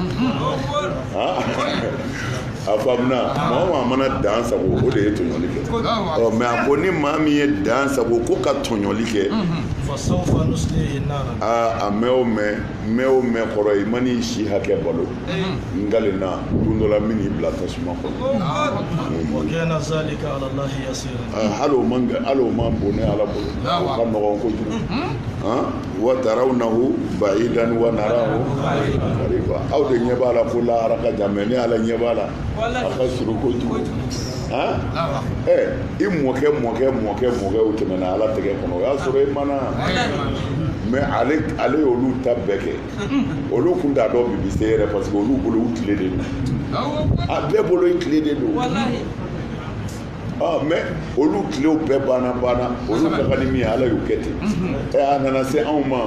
a faamuna maa maa mana dan sago o de ye tɔɲɔli kɛ ɔ mais a ko ni maa min ye dan sago ko ka tɔɲɔli kɛ aa a mɛn o mɛn mɛn o mɛn kɔrɔ i man'i si hakɛ balo n galenna don dɔ la n bɛn'i bila tasuma kɔnɔ hali o man hali o man bon ne ala bolo o ka nɔgɔn kojugu wa tarawnahu bayidan wa narahu kariba aw de ɲɛ b'a la ko lahara ka jan mais ne ala ɲɛ b'a la a ka surun kojugu ɛ i mɔkɛ mɔkɛ mɔkɛ mɔkɛ o tɛmɛna ala tɛgɛ kɔnɔ o y'a sɔrɔ i ma na mais ale y'olu ta bɛɛ kɛ olu kun t'a dɔn bi bi se yɛrɛ parce que olu bolo u tile de don a bɛɛ bolo i tile de don mais olu tilew bɛɛ banna banna olu ka kan ni min ye ala y'u kɛ ten ɛ a nana se anw ma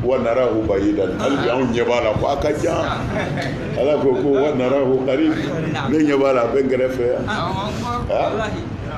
wa narahu bayidan hali bi anw ɲɛ b'a la ko a ka jan ala ko ko wa narahu karib ne ɲɛ b'a la a bɛ n kɛrɛfɛ yan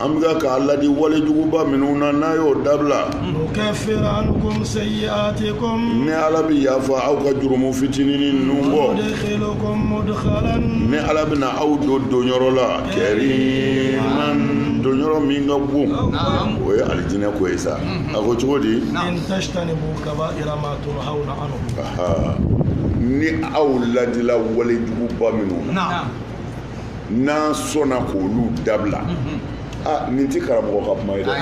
an bɛ k'a ladi walejuguba minnu na n'a y'o dabila ni ala bɛ yafa aw ka jurumu fitinin ninnu bɔ ni ala bɛna aw don donyɔrɔ la kɛ don yɔrɔ min ka bon o ye alijinɛ ko ye sa a ko cogo di ni aw ladila walejuguba minnu na n'a sɔnna k'olu dabila a nin tɛ karamɔgɔ ka kuma ye dɛ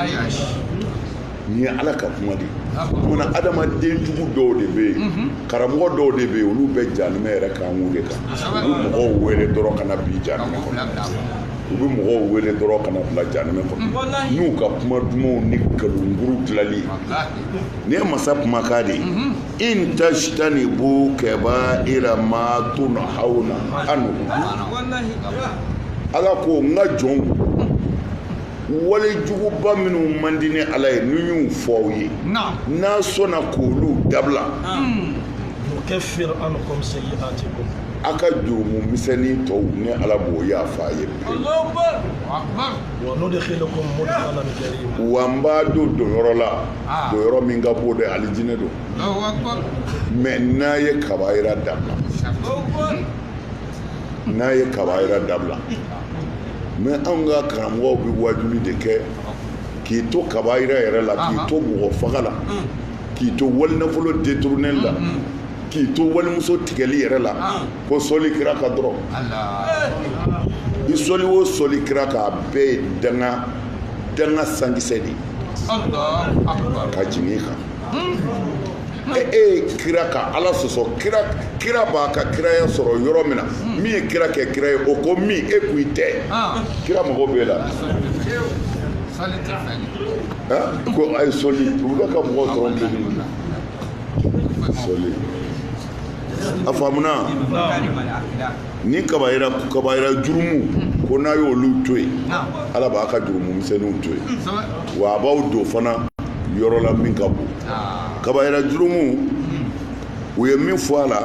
nin ye ala ka kuma de ye munna adamaden jugu dɔw de bɛ yen karamɔgɔ dɔw de bɛ yen olu bɛ janimɛ yɛrɛ kankun de kan u bɛ mɔgɔw wele dɔrɔn ka na bi janimɛ kɔnɔ u bɛ mɔgɔw wele dɔrɔn ka na bila janimɛ kɔnɔ n'u ka kuma dumanw ni nkalonjuru dilanli nin ye masa kumakan de ye in tajtanibu kaba'ira ma tunhawna anhu ala ko n ka jɔnw wale juguba minnu man di ne ala ye n'u y'u fɔ aw ye n'a sɔnna k'olu dabila nukaffir ankum sayyi'atikum a ka jurumu misɛnnin tɔw ne ala b'o yafa a ye wa nudkhilukum mudkhalan karima wa n b'a don donyɔrɔ la ah. donyɔrɔ min ka bon dɛ alijinɛ don mais n'a ye kabayira dabila n'a ye kabayira dabila mais anw ka karamɔgɔw bɛ wajuli de kɛ k'i to kabayira yɛrɛ la k'i to mɔgɔ faga la mm. k'i to walinafolo détournéli la mm, mm. k'i to walimuso tigɛli yɛrɛ la ah. ko sɔli kira kan dɔrɔn i sɔli o sɔli kira kan a bɛɛ ye danga danga sankisɛ de ka jigin i kan e ye kira ka ala sɔsɔ kira b'a ka kiraya sɔrɔ yɔrɔ min na hmm. min ye kira kɛ kira ye o ko min e k'i tɛ ah. kira mago b'e la ko a ye sɔli u bɛ ka mɔgɔ sɔrɔ deli na sɔli a faamuna ni kabayira jurumu ko n'a y'olu to yen ala b'a ka jurumu misɛnninw to yen wa a b'aw don fana yɔrɔ la min ka bon kabayira jurumu u ye min fɔ a la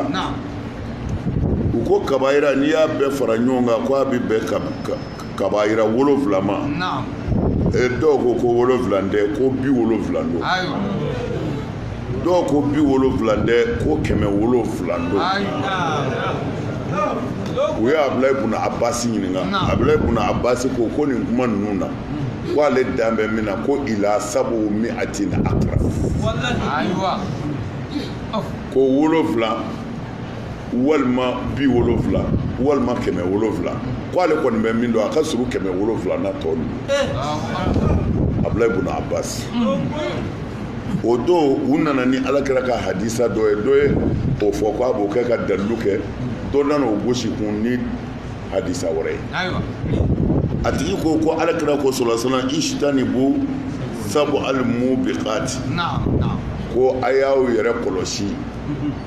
u ko kabayira n'i y'a bɛɛ fara ɲɔgɔn kan ko a bɛ bɛn ka Kabayira wolonwula ma dɔw ko ko wolonwula tɛ ko bi wolonwula don dɔw ko bi wolonwula tɛ ko kɛmɛ wolonwula don u ye Abdulayi ibn Abbas ɲininka Abdulayi ibn Abbas ko ko nin kuma ninnu na ko ale dan bɛ min na ko ila sabu mi'atin akrab ko wolonwula walima bi wolonwula walima kɛmɛ wolonwula ko ale kɔni bɛ min dɔn a ka surun kɛmɛ wolonwula na tɔ ninnu eh. abulayi buna abasi o don u nana ni ala kira ka hadisa dɔ ye dɔ ye o fɔ ko a b'o kɛ ka dalilu kɛ dɔ nana o gosi kun ni hadisa wɛrɛ ye a tigi ko ko ala kira ko solasana ijitanibu sabu alimubikati ko a y'aw yɛrɛ kɔlɔsi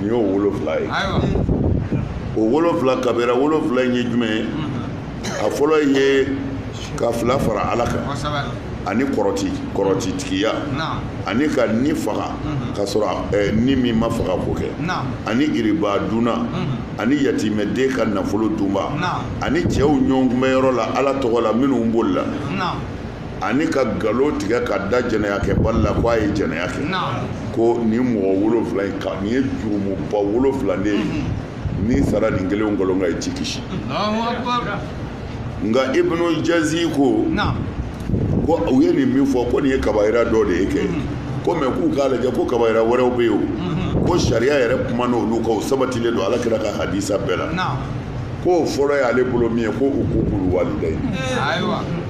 nin y'o wolonwula ye o wolonwula kabira wolonwula in ye jumɛn ye a fɔlɔ ye ka fila fara ala kan ani kɔrɔti kɔrɔti tigiya ani ka ni faga ka sɔrɔ eh, ni min ma faga ko kɛ ani iriba duna mhm. ani yatimɛden ka nafolo dunba ani cɛw ɲɔgɔnbɛnyɔrɔ la ala tɔgɔ la minnu bolila ani ka nkalon tigɛ ka da jɛnɛyakɛbali la k'a ye jɛnɛya kɛ ko nin mɔgɔ wolonwula in kan nin ye jurumuba wolonwula de ye mhm. n'i sara nin kelen kelen kan i ti kisi nka ibnu jazi ko ko u ye nin min fɔ ko nin ye kabayira dɔ de ye kɛ mhm. komi k'u k'a lajɛ ko kabayira wɛrɛw bɛ yen o mhm. ko sariya yɛrɛ kumana olu kan o sabatilen don ala kira ka hadisa bɛɛ la k'o fɔlɔ y'ale bolo min ye ko ukuku lwalidayi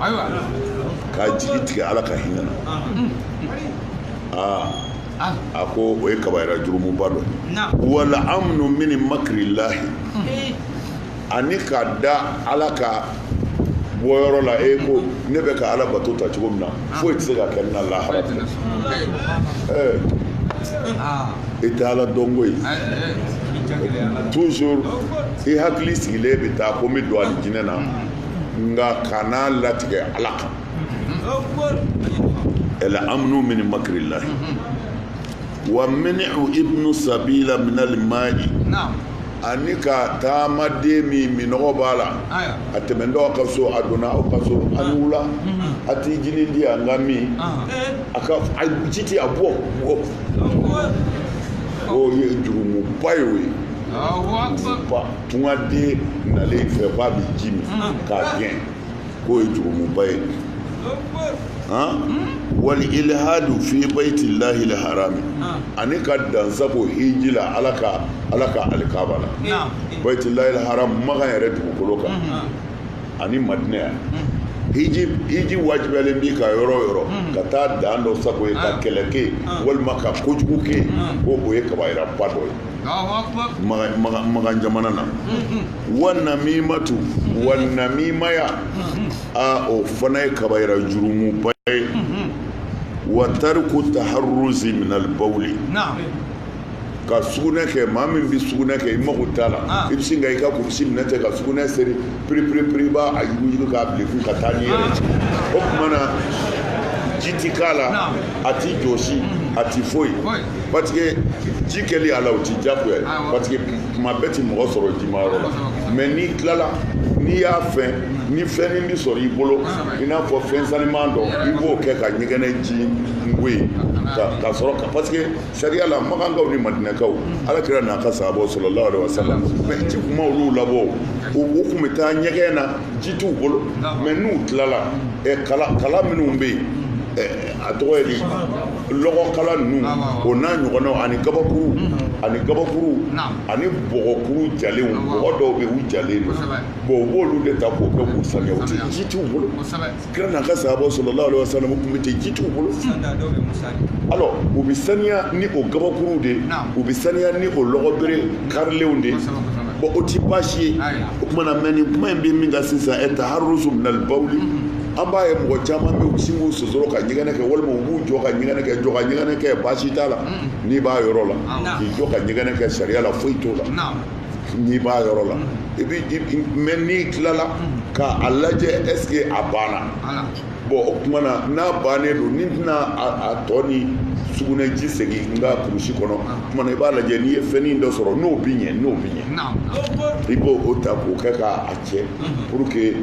ayiwa ka jigi tigɛ ala ka hinɛ na aa a ko o ye kabayira jurumuba dɔ wali amnu min makirilahi ani ka da ala ka bɔyɔrɔ la e ko ne bɛ ka ala bato ta cogo min na foyi tɛ se ka kɛ n na lahara i tɛ ala dɔn koyi toujours i hakili sigilen bɛ taa ko n bɛ don alijinɛ na nka kana a latigɛ ala kan ɛli amnu min makirilahi wa manu ibnu sabila minali mayi ani ka taamaden min minɔgɔ b'a la a tɛmɛtɔ aw ka so a donna aw ka so a ni wula a ti jinin di yan n k'a min a ko ji ti yan bɔ bɔ o ye jurumuba ye o ye ba tungaden nalen i fɛ k'a bɛ ji min k'a gɛn k'o ye jurumuba ye wali ilhadu fi bayti llahi lharami ani ka dansago hiji la ala ka ala ka alikaba la bayti llahi lharam makan yɛrɛ dugukolo kan ani madina yan hiji hiji wajibiyalen b'i kan yɔrɔ yɔrɔ ka taa dan dɔ sago yen ka kɛlɛ kɛ walima ka kojugu kɛ ko o ye kabayiraba dɔ ye magan jamana na wa namimatu wa namimaya a o fana ye kabayira jurumu ba ye wa tarku taharruzi min albawli ka sugunɛ kɛ maa min bɛ sugunɛ kɛ i mago t'a la ah. i bɛ sin ka i ka kurusi minɛ ten ka sugunɛ seri piripiripiri i b'a a yuguyugu k'a bil'i kun ka taa n'i yɛrɛ ah. o tuma na ji ti k'a la a ti jɔsi mm-hmm. a ti foyi parce que ji kɛli a la o ti jagoya ye parce que tuma bɛɛ ti mɔgɔ sɔrɔ jimayɔrɔ la mais n'i tilala n'i y'a fɛn ni fɛn min bi sɔrɔ i bolo i n'a fɔ fɛn saniman dɔ i b'o kɛ ka ɲɛgɛnɛ ji ngo ye ka sɔrɔ ka parce que sariya la makankaw ni madinakaw ala kira n'a ka sahabaw sallallahu alaihi wasallam mais ji tun ma olu labɔ u u tun bɛ taa ɲɛgɛn na ji t'u bolo mais n'u tilala kala kala minnu bɛ yen a tɔgɔ ye di lɔgɔkala ninnu o n'a ɲɔgɔnnaw ani kabakuru ani kabakuru ani bɔgɔkuru jalenw bɔgɔ dɔw bɛ u jalen don bon u b'olu de ta k'o kɛ k'u saniya u tɛ ji t'u bolo kira n'a ka sahabaw sallallahu alaihi wasallam u tun bɛ ten ji t'u bolo alors u bɛ saniya ni o kabakuruw de u bɛ saniya ni o lɔgɔbere karilenw de bon o tɛ baasi ye o tuma na mɛ nin kuma in bɛ min kan sisan taharruzu minal bawli an b'a ye mɔgɔ caman bɛ sin k'u sosoro ka ɲɛgɛnɛ kɛ walima u b'u jɔ ka ɲɛgɛnɛ kɛ jɔ ka ɲɛgɛnɛ kɛ baasi t'a la n'i b'a yɔrɔ la k'i jɔ ka ɲɛgɛnɛ kɛ sariya la foyi t'o la n'i b'a yɔrɔ la i bɛ mɛ n'i tilala ka a lajɛ est-ce que a banna bon o tuma na n'a bannen don ni tɛna a to ni sugunɛji segin n ka kurusi kɔnɔ tuma na i b'a lajɛ n'i ye fɛnin dɔ sɔrɔ n'o bɛ ɲɛ n'o bɛ ɲɛ i b'o o ta k'o kɛ k'a cɛ pour que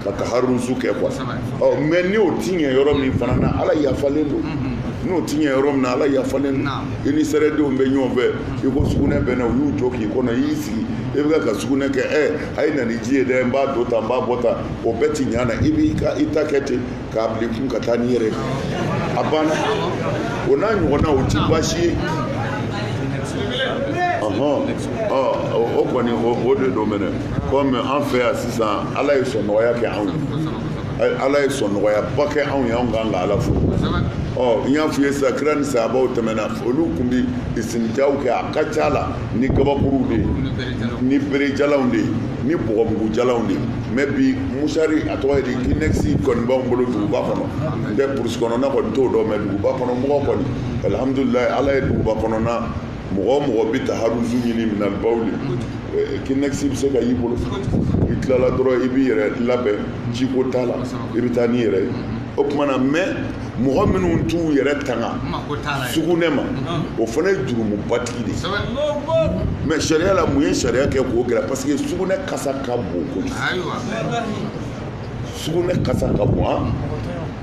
ka taharuzu kɛ quoi ɔ mɛ n'o ti ɲɛ yɔrɔ min fana na ala yafalen don n'o ti ɲɛ yɔrɔ min na ala yafalen don i ni sɛrɛdenw bɛ ɲɔgɔn fɛ i ko sugunɛ bɛ n na u y'u jɔ k'i kɔnɔ i y'i sigi i bɛ ka sugunɛ kɛ ɛ a ye na ni ji ye dɛ n b'a don tan n b'a bɔ tan o bɛɛ ti ɲa na i b'i ta kɛ ten k'a bil'i kun ka taa n'i yɛrɛ a banna o n'a ɲɔgɔnna o ti baasi ye o kɔni o de don mɛnɛ kɔmi an fɛ yan sisan ala ye sɔn nɔgɔya kɛ anw ye ala ye sɔn nɔgɔyaba kɛ anw ye anw kan ka ala fo ɔ n y'a f'i ye sisan kira ni sahabaw tɛmɛna olu tun bi isitinjaw kɛ a ka ca la ni kabakuruw de ye ni berejalanw de ye ni bɔgɔmugujalanw de ye mɛ bi musari a tɔgɔ ye di kinɛkisi kɔni b'anw bolo duguba kɔnɔ n tɛ burusi kɔnɔna kɔni t'o dɔn mɛ duguba kɔnɔ mɔgɔ kɔni alihamudulila ala ye duguba kɔnɔna mɔgɔ mɔgɔ bɛ taharuzu ɲini minal bawli kinɛkisi bɛ se ka y'i bolo i tilala dɔrɔn i b'i yɛrɛ labɛn jiko t'a la i bɛ taa n'i yɛrɛ ye o tuma na mɛ mɔgɔ minnu t'u yɛrɛ tanga sugunɛ ma o fana ye jurumubatigi de mɛ sariya la mun ye sariya kɛ k'o gɛlɛya parce que sugunɛ kasa ka bon ko sugunɛ kasa ka bon an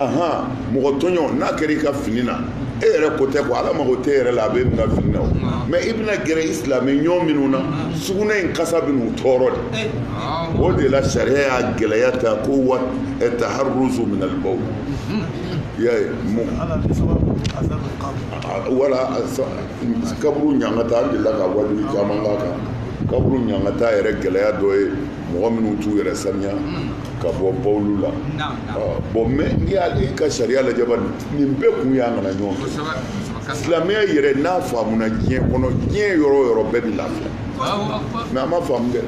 ahan mɔgɔ tɔɲɔ n'a kɛra i ka fini na e yɛrɛ ko tɛ ko ala mago t'e yɛrɛ la a bɛ min ka fini na o mɛ i bɛna gɛrɛ i silamɛ ɲɔgɔn minnu na sugunɛ in kasa bɛ n'u tɔɔrɔ de o de la sariya y'a gɛlɛya ta ko wa e taharuzu min alibawli i y'a ye mun wala kaburu ɲangata an delila ka waajuli caman k'a kan kaburu ɲangata yɛrɛ gɛlɛya dɔ ye mɔgɔ minnu t'u yɛrɛ saniya ka bɔ bawuli la bon mɛ n'i y'ala ka sariya lajɛ ba nin bɛɛ kun y'a nana ɲɔgɔn fɛ silamɛya yɛrɛ n'a faamuna diɲɛ kɔnɔ diɲɛ yɔrɔ o yɔrɔ bɛɛ bɛ lafiya mɛ a ma faamu dɛ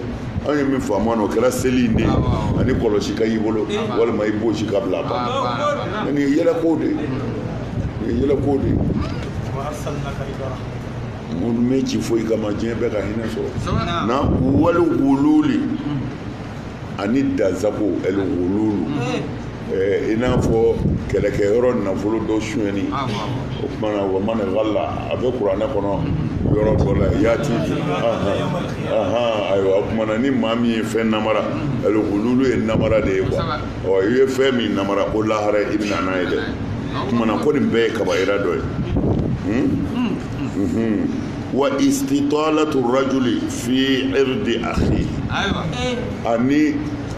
anw ye min faamu o kɛra seli in de ye ani kɔlɔsi ka y'i bolo walima i bonsi ka bila ban mɛ nin ye yɛlɛko de ye nin ye yɛlɛko de ye ne m'e ci foyi kama diɲɛ bɛɛ ka hinɛ sɔrɔ na wali gululu ani dansagon ɛli gululu i n'a fɔ kɛlɛkɛ yɔrɔ nafolo dɔ sonyɛni o tumana wa man galla a bɛ kuranɛ kɔnɔ yɔrɔ dɔ la yaati ayiwa o tumana ni maa min ye fɛn namara ɛli gululu ye namara de ye quoi ɔ i ye fɛn min namara ko lahara i bɛna n'a ye dɛ o tumana ko nin bɛɛ ye kabayira dɔ ye hmm? Hmm, hmm. wa istitalatu rajuli fi irdi akhi ani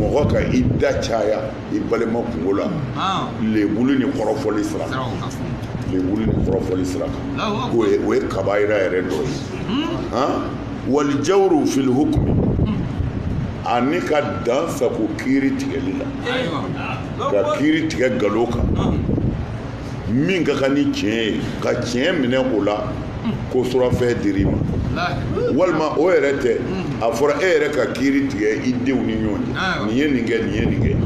mɔgɔ ka i da caya i balima kunko la lebuli ni kɔrɔfɔli sira lebuli ni kɔrɔfɔli sira kan o ye o ye kabayira yɛrɛ dɔ ye hmm? wali jawuru fil hukumi hmm. ani ka dan sagon kiiri tigɛli la ka kiiri tigɛ galon kan hmm. min ka kan ni tiɲɛ ye ka tiɲɛ minɛ o la ko surafɛn dir'i ma walima o yɛrɛ tɛ a fɔra e yɛrɛ ka kiiri tigɛ i denw ni ɲɔgɔn cɛ nin ye nin kɛ nin ye nin kɛ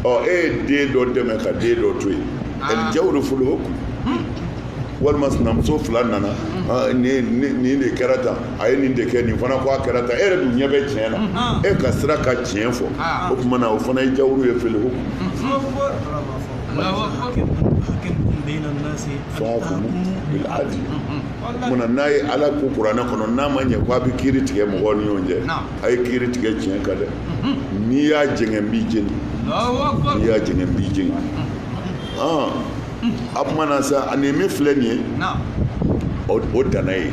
ɔ e ye den dɔ dɛmɛ ka den dɔ to yen ɛli jawuru fil hukumu walima sinamuso fila nana nin de kɛra tan a ye nin de kɛ nin fana ko a kɛra tan e yɛrɛ dun ɲɛ bɛ tiɲɛ na e ka siran ka tiɲɛ fɔ o tumana o fana ye jawuru ye fil hukumu munna n'a ye ala ko kuranɛ kɔnɔ n'a ma ɲɛ ko a bɛ kiiri tigɛ mɔgɔw ni ɲɔgɔn cɛ a ye kiiri tigɛ tiɲɛ kan dɛ n'i y'a jɛngɛ n b'i jeni n'i y'a jɛngɛ n b'i jeni a kumana sa ani min filɛ nin ye o danna yen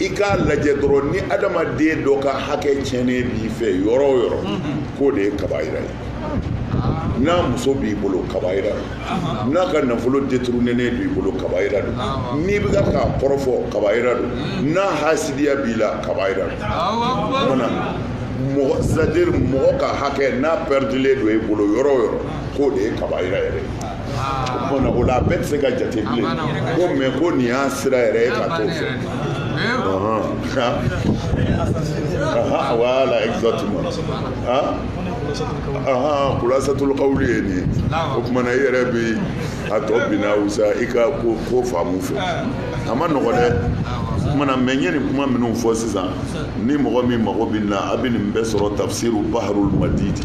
i k'a lajɛ dɔrɔn ni adamaden dɔ ka hakɛ tiɲɛnen b'i fɛ yɔrɔ o yɔrɔ k'o de ye kabayira ye n'a muso b'i bolo kabayira don n'a ka nafolo détournénen b'i bolo kabayira don n'i bɛ ka k'a kɔrɔfɔ kabayira don n'a hasidiya b'i la kabayira don mana mɔgɔ c'est-à-dire mɔgɔ ka hakɛ n'a perdulen don i bolo yɔrɔ o yɔrɔ k'o de ye kabayira yɛrɛ ye o la a bɛɛ tɛ se ka jate bilen ko mɛ ko nin y'a sira yɛrɛ ye ka t'o fɛ voilà exactement khulasatul qawli ye nin ye o kumana i yɛrɛ bi a tɔ binna wusa i ka ko faamu fɛ a ma nɔgɔ dɛ kumana mɛ n ye nin kuma minnu fɔ sisan ni mɔgɔ min mago bɛ na a bɛ nin bɛɛ sɔrɔ tafsiru baharul madidi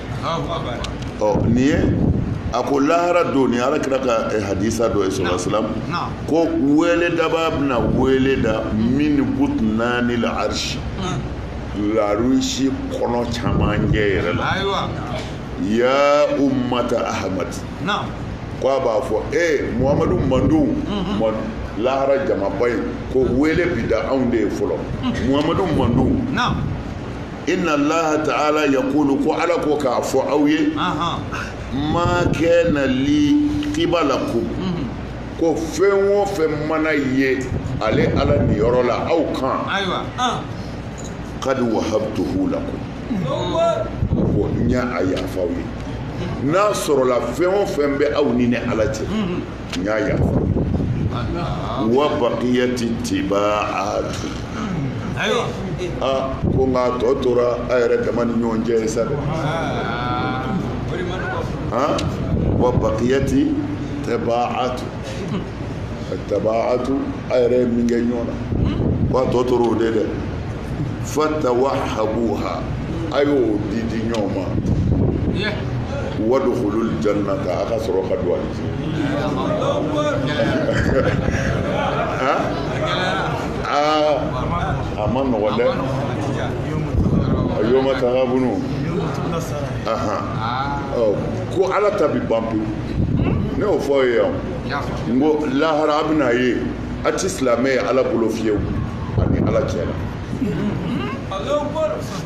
ɔ nin ye a ko lahara don ni ala kira ka eh, hadisa dɔ ye sallallahu alaihi wasallam ko weledabaa bɛna wele da min butnanil arsi larusi kɔnɔ camancɛ yɛrɛ la ya ummata ahmad ko a b'a fɔ e eh, muhamadu mantɔnw mhm. lahara jamaba in ko wele bi da anw de ye fɔlɔ muhamadu mantɔn inna laha ta'ala yaqulu ko ala ko k'a fɔ aw ye ma kana li qibalakum ko fɛn o fɛn mana ye ale ala niyɔrɔ la aw kan qad wahabtuhu lakum ko n y'a a yafa aw ye n'a sɔrɔla fɛn o fɛn bɛ aw ni ne ala cɛ n y'a yafa wa baqiyati tibaatu ayiwa aa ko nka tɔ tora a yɛrɛ dama ni ɲɔgɔn cɛ sa dɛ aa wa baqiyati tabaatu attabaatu a yɛrɛ ye min kɛ ɲɔgɔn na ko a tɔ tora o de dɛ fatawahabuha a y'o di di ɲɔgɔn ma wadkhulul jannata a ka sɔrɔ ka don a a ma nɔgɔ dɛ a yawmat taghabunu ko ala ta bi ban pewu ne y'o fɔ aw ye yan n ko lahara a bɛna ye a ti silamɛ ye ala bolo fiyewu ani ala cɛ la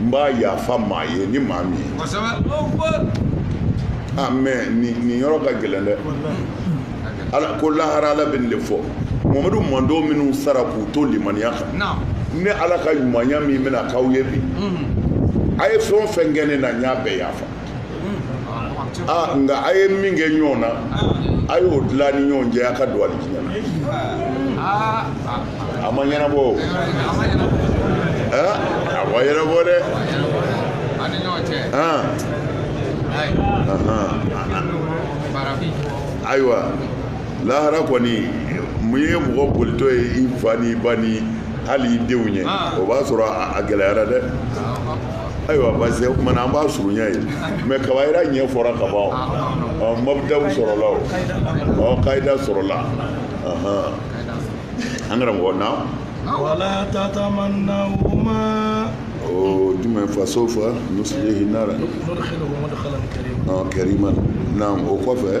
n b'a yafa maa ye ni maa min ye ah, mais nin yɔrɔ ka gɛlɛn dɛ ala ko lahara ala bɛ nin de fɔ mamadu mantɔn minnu sara k'u to limaniya kan ne ala ka ɲumanya min bɛna k'aw ye bi mm-hmm. a ye fɛn o fɛn kɛ ne na n y'a bɛɛ yafa aa nka a ye min kɛ ɲɔgɔn na a y'o dilan ni ɲɔgɔn cɛ a ka don alijinɛ na a ma ɲɛnabɔ a ma ɲɛnabɔ dɛ ayiwa lahara kɔni mun ye mɔgɔ bolitɔ ye i fa n'i ba ni hali i denw ɲɛ o b'a sɔrɔ a gɛlɛyara dɛ ayiwa parce que o kuma na an b'a surunya ye mais kabayira ɲɛfɔra ka ban ɔ mabdaw sɔrɔla o ɔ kayida sɔrɔla an karamɔgɔ na wala tatamannaw ma o jumɛn fasawfa nuslihi nara nudkhiluhu mudkhalan karima naam o kɔfɛ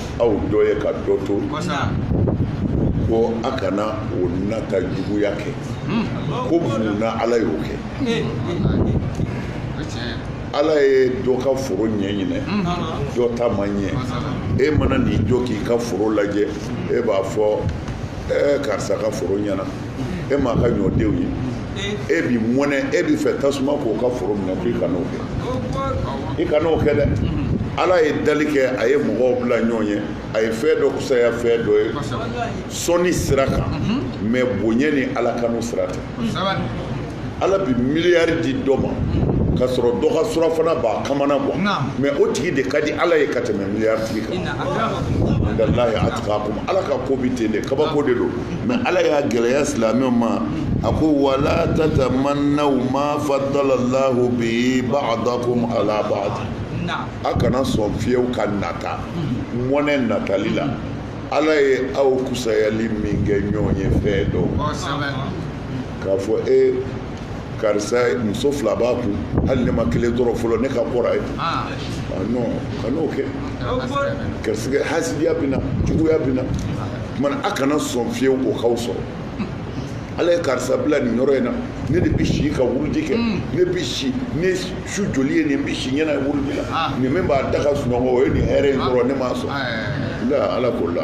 aw dɔ ye ka dɔ to ko a kana o nata juguya kɛ hmm. ko mun na ala y'o kɛ eh, eh, eh, ala ye dɔ ka foro ɲɛ ɲinan hmm. dɔ ta ma ɲɛ e mana n'i jɔ k'i ka foro lajɛ e b'a fɔ karisa ka foro ɲɛna e m'a ka ɲɔdenw ye e bɛ mɔnɛ e b'i fɛ tasuma k'o ka foro minɛ k'i kan'o kɛ i kan'o kɛ dɛ ala ye dali kɛ a ye mɔgɔw bila ɲɔgɔn ye a ye fɛn dɔ kusaya fɛn dɔ ye sɔnni sira kan mais bonya ni ala kanu sira tɛ ala bɛ miliyari di dɔ ma ka sɔrɔ dɔ ka surafana b'a kamanagan mais o tigi de ka di ala ye ka tɛmɛ miliyari tigi kan indallahi atqakum ala ka ko bɛ ten de kabako de don mais ala y'a gɛlɛya silamɛw ma a ko wala tatamannaw ma faddalallahu bihi ba'dakum ala ba'd a kana sɔn fiyewu ka nata mhm. mɔnɛ natali la ala ye aw kusayali min kɛ ɲɔgɔn ye fɛn dɔ k'a fɔ e karisa muso fila b'a kun hali ne ma kelen sɔrɔ fɔlɔ ne ka kɔrɔ a ye ah. ah, non kan'o kɛ garisɛgɛ hasidiya bɛ na juguya bɛ na kuma na a kana sɔn fiyewu o k'aw sɔrɔ ala ye karisa bila nin yɔrɔ in na ne de bɛ si ka wuruji kɛ hmm. ne bɛ si ne su joli ye nin bɛ si ɲɛna wuruji la ah. nin min b'a da ka sunɔgɔ o ye nin hɛrɛ in sɔrɔ ne m'a sɔrɔ eh. la ala ko la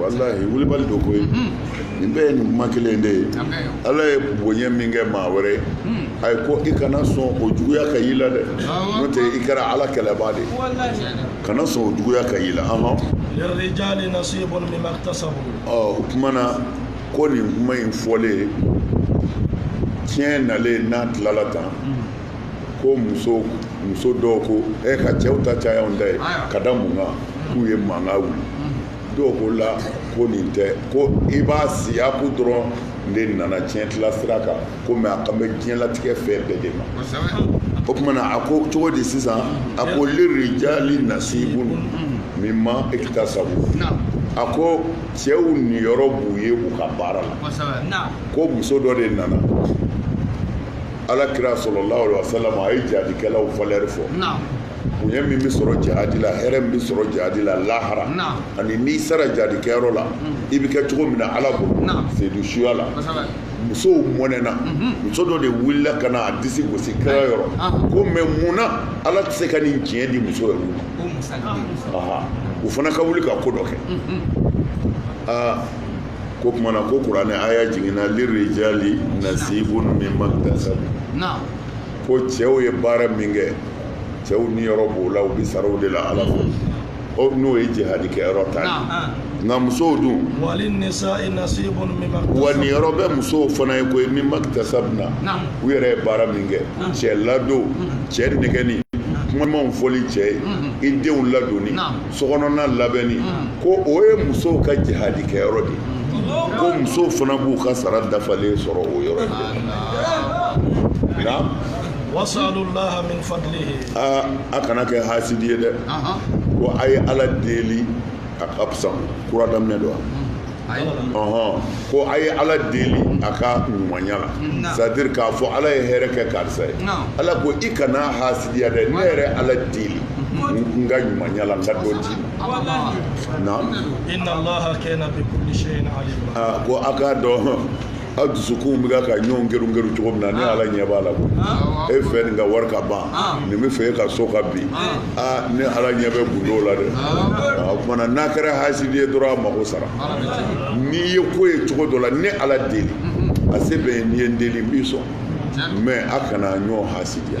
walahi wulibali don koyi mm-hmm. nin bɛɛ ye nin kuma kelen de ye ala ye bonya min kɛ maa wɛrɛ ye mm. a ye ko i kana sɔn o juguya ka y'i la dɛ n'o tɛ i kɛra ala kɛlɛbaa de ye kana sɔn o juguya ka y'i la lirrijali nasibun mimma iktasabu o kuma na ko nin kuma in fɔlen tiɲɛ nalen n'a tilala tan mm. ko muso muso dɔw ko e ka cɛw ta caya anw ta ye ka da mun kan k'u ye mankan wuli dɔw ko la ko nin tɛ ko i b'a siyaku dɔrɔn de nana tiɲɛ tila sira kan ko mɛ a kan bɛ diɲɛlatigɛ fɛn bɛɛ de ma o kuma na a ko cogo di sisan a ko lirijali nasibun mimma iktasabu a ko cɛw niyɔrɔ b'u ye u ka baara la ko muso dɔ de nana ala kira sallallahu alayihi wasallam a ye jihadikɛlaw valeur fɔ bonya min bɛ sɔrɔ jihadi la hɛrɛ min bɛ sɔrɔ jihadi la lahara ani n'i sara jihadikɛyɔrɔ la i bɛ kɛ cogo min na ala bolo seyidu suya la musow mɔnɛna mhm. muso dɔ de wulila ka na a disi gosi kira yɔrɔ ah. ko mɛ mun na ala tɛ se ka nin tiɲɛ di muso yɛrɛ ma u fana ka wuli ka ko dɔ kɛ mhm. ah. k'o kuma na ko kuranɛ aya jiginna lirijali nasibun mimma iktasabu ko cɛw ye baara min kɛ cɛw niyɔrɔ b'o la u bɛ sara o de la ala fɛ o n'o ye jihadi kɛ yɔrɔ ta ye nka musow dun wa niyɔrɔ bɛ musow fana ye koyi mimma iktasabna u yɛrɛ ye baara min kɛ cɛ ladon cɛ nɛgɛnni kuma ɲumanw fɔli cɛ ye i denw ladonni sokɔnɔna labɛnni ko o ye musow ka jihadi kɛyɔrɔ de ye ko musow fana b'u ka sara dafalen sɔrɔ o yɔrɔ de la aa a kana kɛ hasidi ye dɛ ko a ye ala deli a ka fisa kura daminɛ don wa ko a ye ala deli a ka ɲumanya la c'est-à-dire k'a fɔ ala ye hɛrɛ kɛ karisa ye ala ko i kana hasidiya dɛ ne yɛrɛ ala deli n ka ɲumanya la n ka dɔ d'i ma ko a k'a dɔn aw dusukunw bɛ ka ka ɲɔgɔn geru geru cogo min na ne ala ɲɛ b'a la ko e fɛ nin ka wari ka ban nin b'a fɛ e ka so ka bin aa ne ala ɲɛ bɛ gundo la dɛ o kuma na n'a kɛra hasidi ye dɔrɔn a mago sara n'i ye ko ye cogo dɔ la ne ala deli a se bɛ n ye n'i ye n deli n b'i sɔn mɛ a kana ɲɔgɔn hasidiya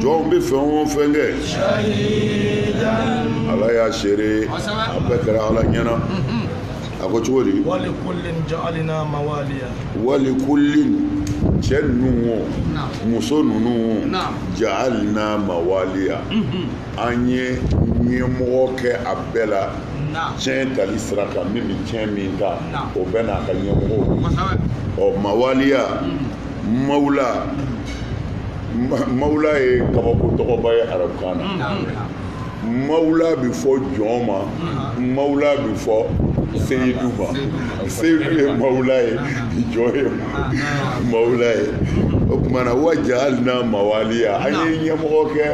jɔnw bɛ fɛn o fɛn kɛ ala y'a seere a bɛɛ kɛra ala ɲɛna a ko cogo di walikullin cɛ ninnu o muso ninnu o jaalna mawaliya an ye ɲɛmɔgɔ kɛ a bɛɛ la tiɲɛ tali sira kan min bɛ tiɲɛ min ta o bɛɛ n'a ka ɲɛmɔgɔ ɔ mawaliya mawula mawula ye kabako tɔgɔba ye arabukan na mawula bɛ fɔ jɔn ma mawula bɛ fɔ seyidu ma seyidu ye mawula ye jɔn ye mawula ye o tuma na wa ja'alna mawaliya an ye ɲɛmɔgɔ kɛ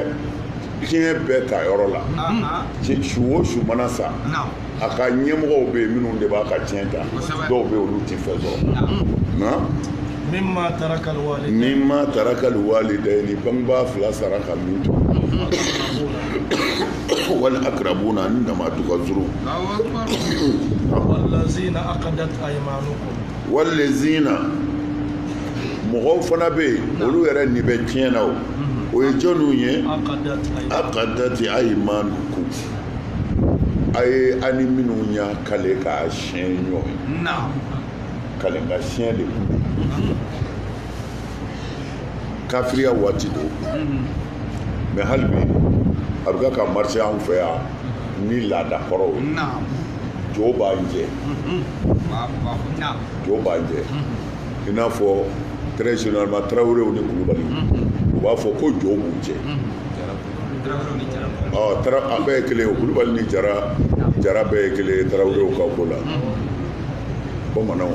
tiɲɛ bɛɛ ta yɔrɔ la su o su mana sa a ka ɲɛmɔgɔw bɛ yen minnu de b'a ka tiɲɛ ta dɔw bɛ yen olu tɛ fɛn sɔrɔ mimma taraka alwalidani bangebaa fila sara ka min to wal akarabuna ni dama tun ka surun walazina akadat aymanukum walazina mɔgɔw fana bɛ yen olu yɛrɛ nin bɛ tiɲɛ na o o ye jɔnniw ye akadat aymanukum a ye a ni minnu y'a kale k'a siɲɛ ɲɔgɔn ye kalenka siɲɛ de kun kafiriya waati don mais hali bi a bɛ ka marché anw fɛ yan ni laada kɔrɔw ye jo b'an cɛ jo b'an cɛ i n'a fɔ très généralement tarawelew ni kulubaliw u b'a fɔ ko jo b'u cɛ a bɛɛ ye kelen kulubali ni jara bɛɛ ye kelen ye tarawelew ka ko la bamananw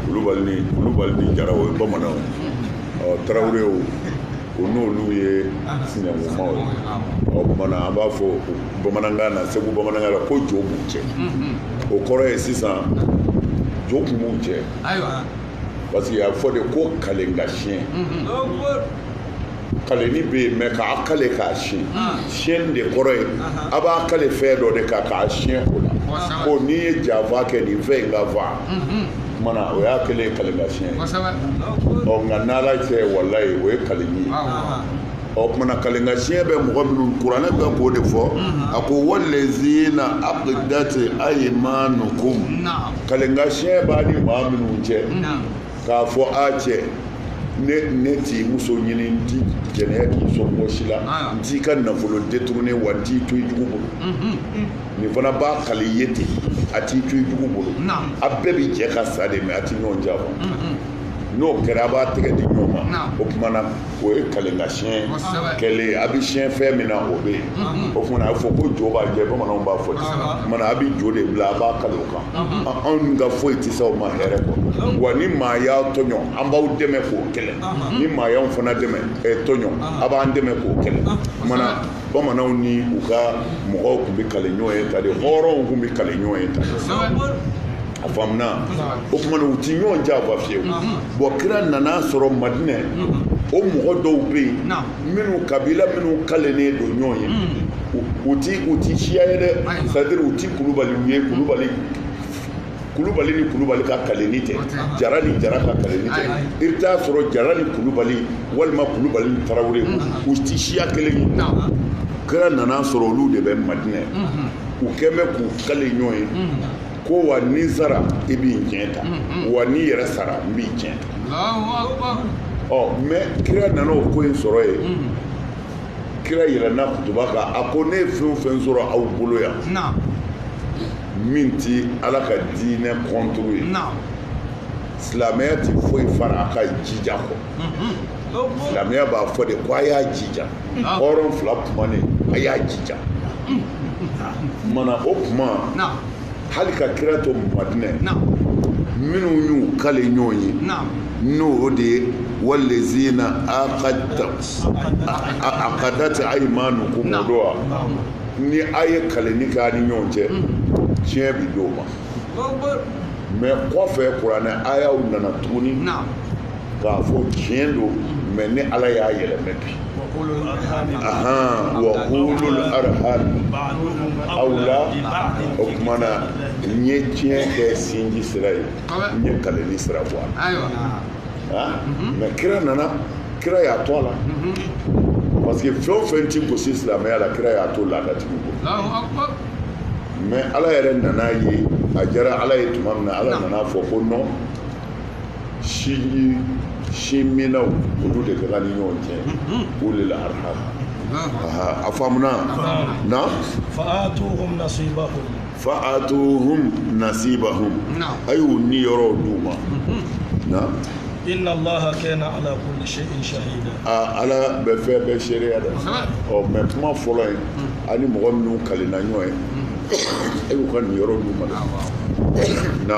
kulubali ni jara o ye bamananw ɔ tarawelew u n'olu ye sinankunmaw ye o tuma na an b'a fɔ bamanankan na segu bamanankan la ko jo b'u cɛ o kɔrɔ ye sisan jo kun b'u cɛ parce que a fɔ de ko kalengasiyɛn kaleni bɛ yen mais k'a kale k'a siyɛn ah. siyɛnni de kɔrɔ ye a b'a kale fɛn dɔ de kan k'a siyɛn o la ko ni n ye janfa kɛ nin fɛn in ka n fa mhm. o tuma na o y'a kɛlen ye kale ka siyɛn ɔ nka n'ala cɛ walayi o ye kaleni ye o tuma na kalenka siɲɛ bɛ mɔgɔ minnu kuranɛ bɛ k'o de fɔ mhm. a ko walezina aqadat aymanukum kalenka siɲɛ b'a ni maa minnu cɛ k'a fɔ a cɛ ne t'i muso ɲini n ti jɛnɛya k'i somɔgɔ si la ah. n t'i ka nafolo détourné wa n t'i to i jugu bolo mhm. nin fana b'a kali i ye ten a t'i to i jugu bolo a bɛɛ bɛ jɛ ka sa de mais a tɛ ɲɔgɔn janfa mhm. n'o kɛra a b'a tɛgɛ di ɲɔgɔn ma o tuma na o ye kalenkasiyɛn kɛlen a bɛ siyɛn fɛn min na o bɛ yen mhm. o tuma na a bɛ fɔ ko jo b'a cɛ bamananw b'a fɔ ten o tuma na a bɛ jo de bila a b'a kale o kan anw ka foyi tɛ se aw ma hɛrɛ kɔ wa ni maa y'aw tɔɲɔ an b'aw dɛmɛ k'o kɛlɛ ni maa y'anw fana dɛmɛ eh, tɔɲɔ a b'an dɛmɛ k'o kɛlɛ o tuma na bamananw ni u ka mɔgɔw tun bɛ kale ɲɔgɔn ye tan de hɔrɔnw tun bɛ kale ɲɔgɔn ye tan de a faamuna o tuma na u ti ɲɔgɔn janfa fiyewu bɔn kira nana sɔrɔ madinɛ o mɔgɔ dɔw bɛ yen minnu kabila minnu kalennen don ɲɔgɔn ye hmm. u ti siya ye dɛ c'est à dire u ti kulubaliw ye kulubali ni kulubali ka kalenni tɛ jara ni jara ka kalenni tɛ i bɛ taa sɔrɔ jara ni kulubali walima kulubali ni tarawele hmm. u ti siya kelen ye kira nana sɔrɔ olu de bɛ madinɛ hmm. u tun bɛ k'u kale ɲɔgɔn ye ko wa ni n sara i bi n tiɲɛ ta wa n'i yɛrɛ sara n b'i tiɲɛ ta ɔ mais kira nana o ko in sɔrɔ yen kira yɛlɛnna kutuba kan a ko ne ye fɛn o fɛn sɔrɔ aw bolo yan min ti ala ka diinɛ contre ye silamɛya ti foyi fara a ka jija kɔ silamɛya b'a fɔ de ko a y'a jija hɔrɔn fila kumanen a y'a jija mana o kuma hali ka kira to madinɛ minnu y'u kale ɲɔgɔn ye n'o de ye walezina akadati ayimanukum o don wa ni a ye kalenni kɛ a ni ɲɔgɔn cɛ tiɲɛ bi d'o ma mais kɔfɛ kuranɛ ayaw nana tuguni k'a fɔ tiɲɛ don mais ne ala y'a yɛlɛmɛ bi ahan wa ulul arhami awla o tuma na n ye tiɲɛ kɛ sinji sira ye n ye kalenni sira bɔ a la mais kira nana kira y'a to a la parce que fɛn o fɛn ti gosi silamɛya la kira y'a to laadatigiw bolo mais ala yɛrɛ nana ye a diyara ala ye tuma min na ala nana fɔ ko non sinji sinminaw olu de ka kan ni ɲɔgɔn cɛ ulul arham a faamuna na fa'atuhum nasibahum fa'atuhum nasibahum a y'u niyɔrɔw d'u ma na inna allaha kana ala kulli shay'in shahida aa ala bɛ fɛn bɛɛ seereya dɛ ɔ mais kuma fɔlɔ ye ani mɔgɔ minnu kalenna ɲɔgɔn ye a y'u ka niyɔrɔ d'u ma dɛ na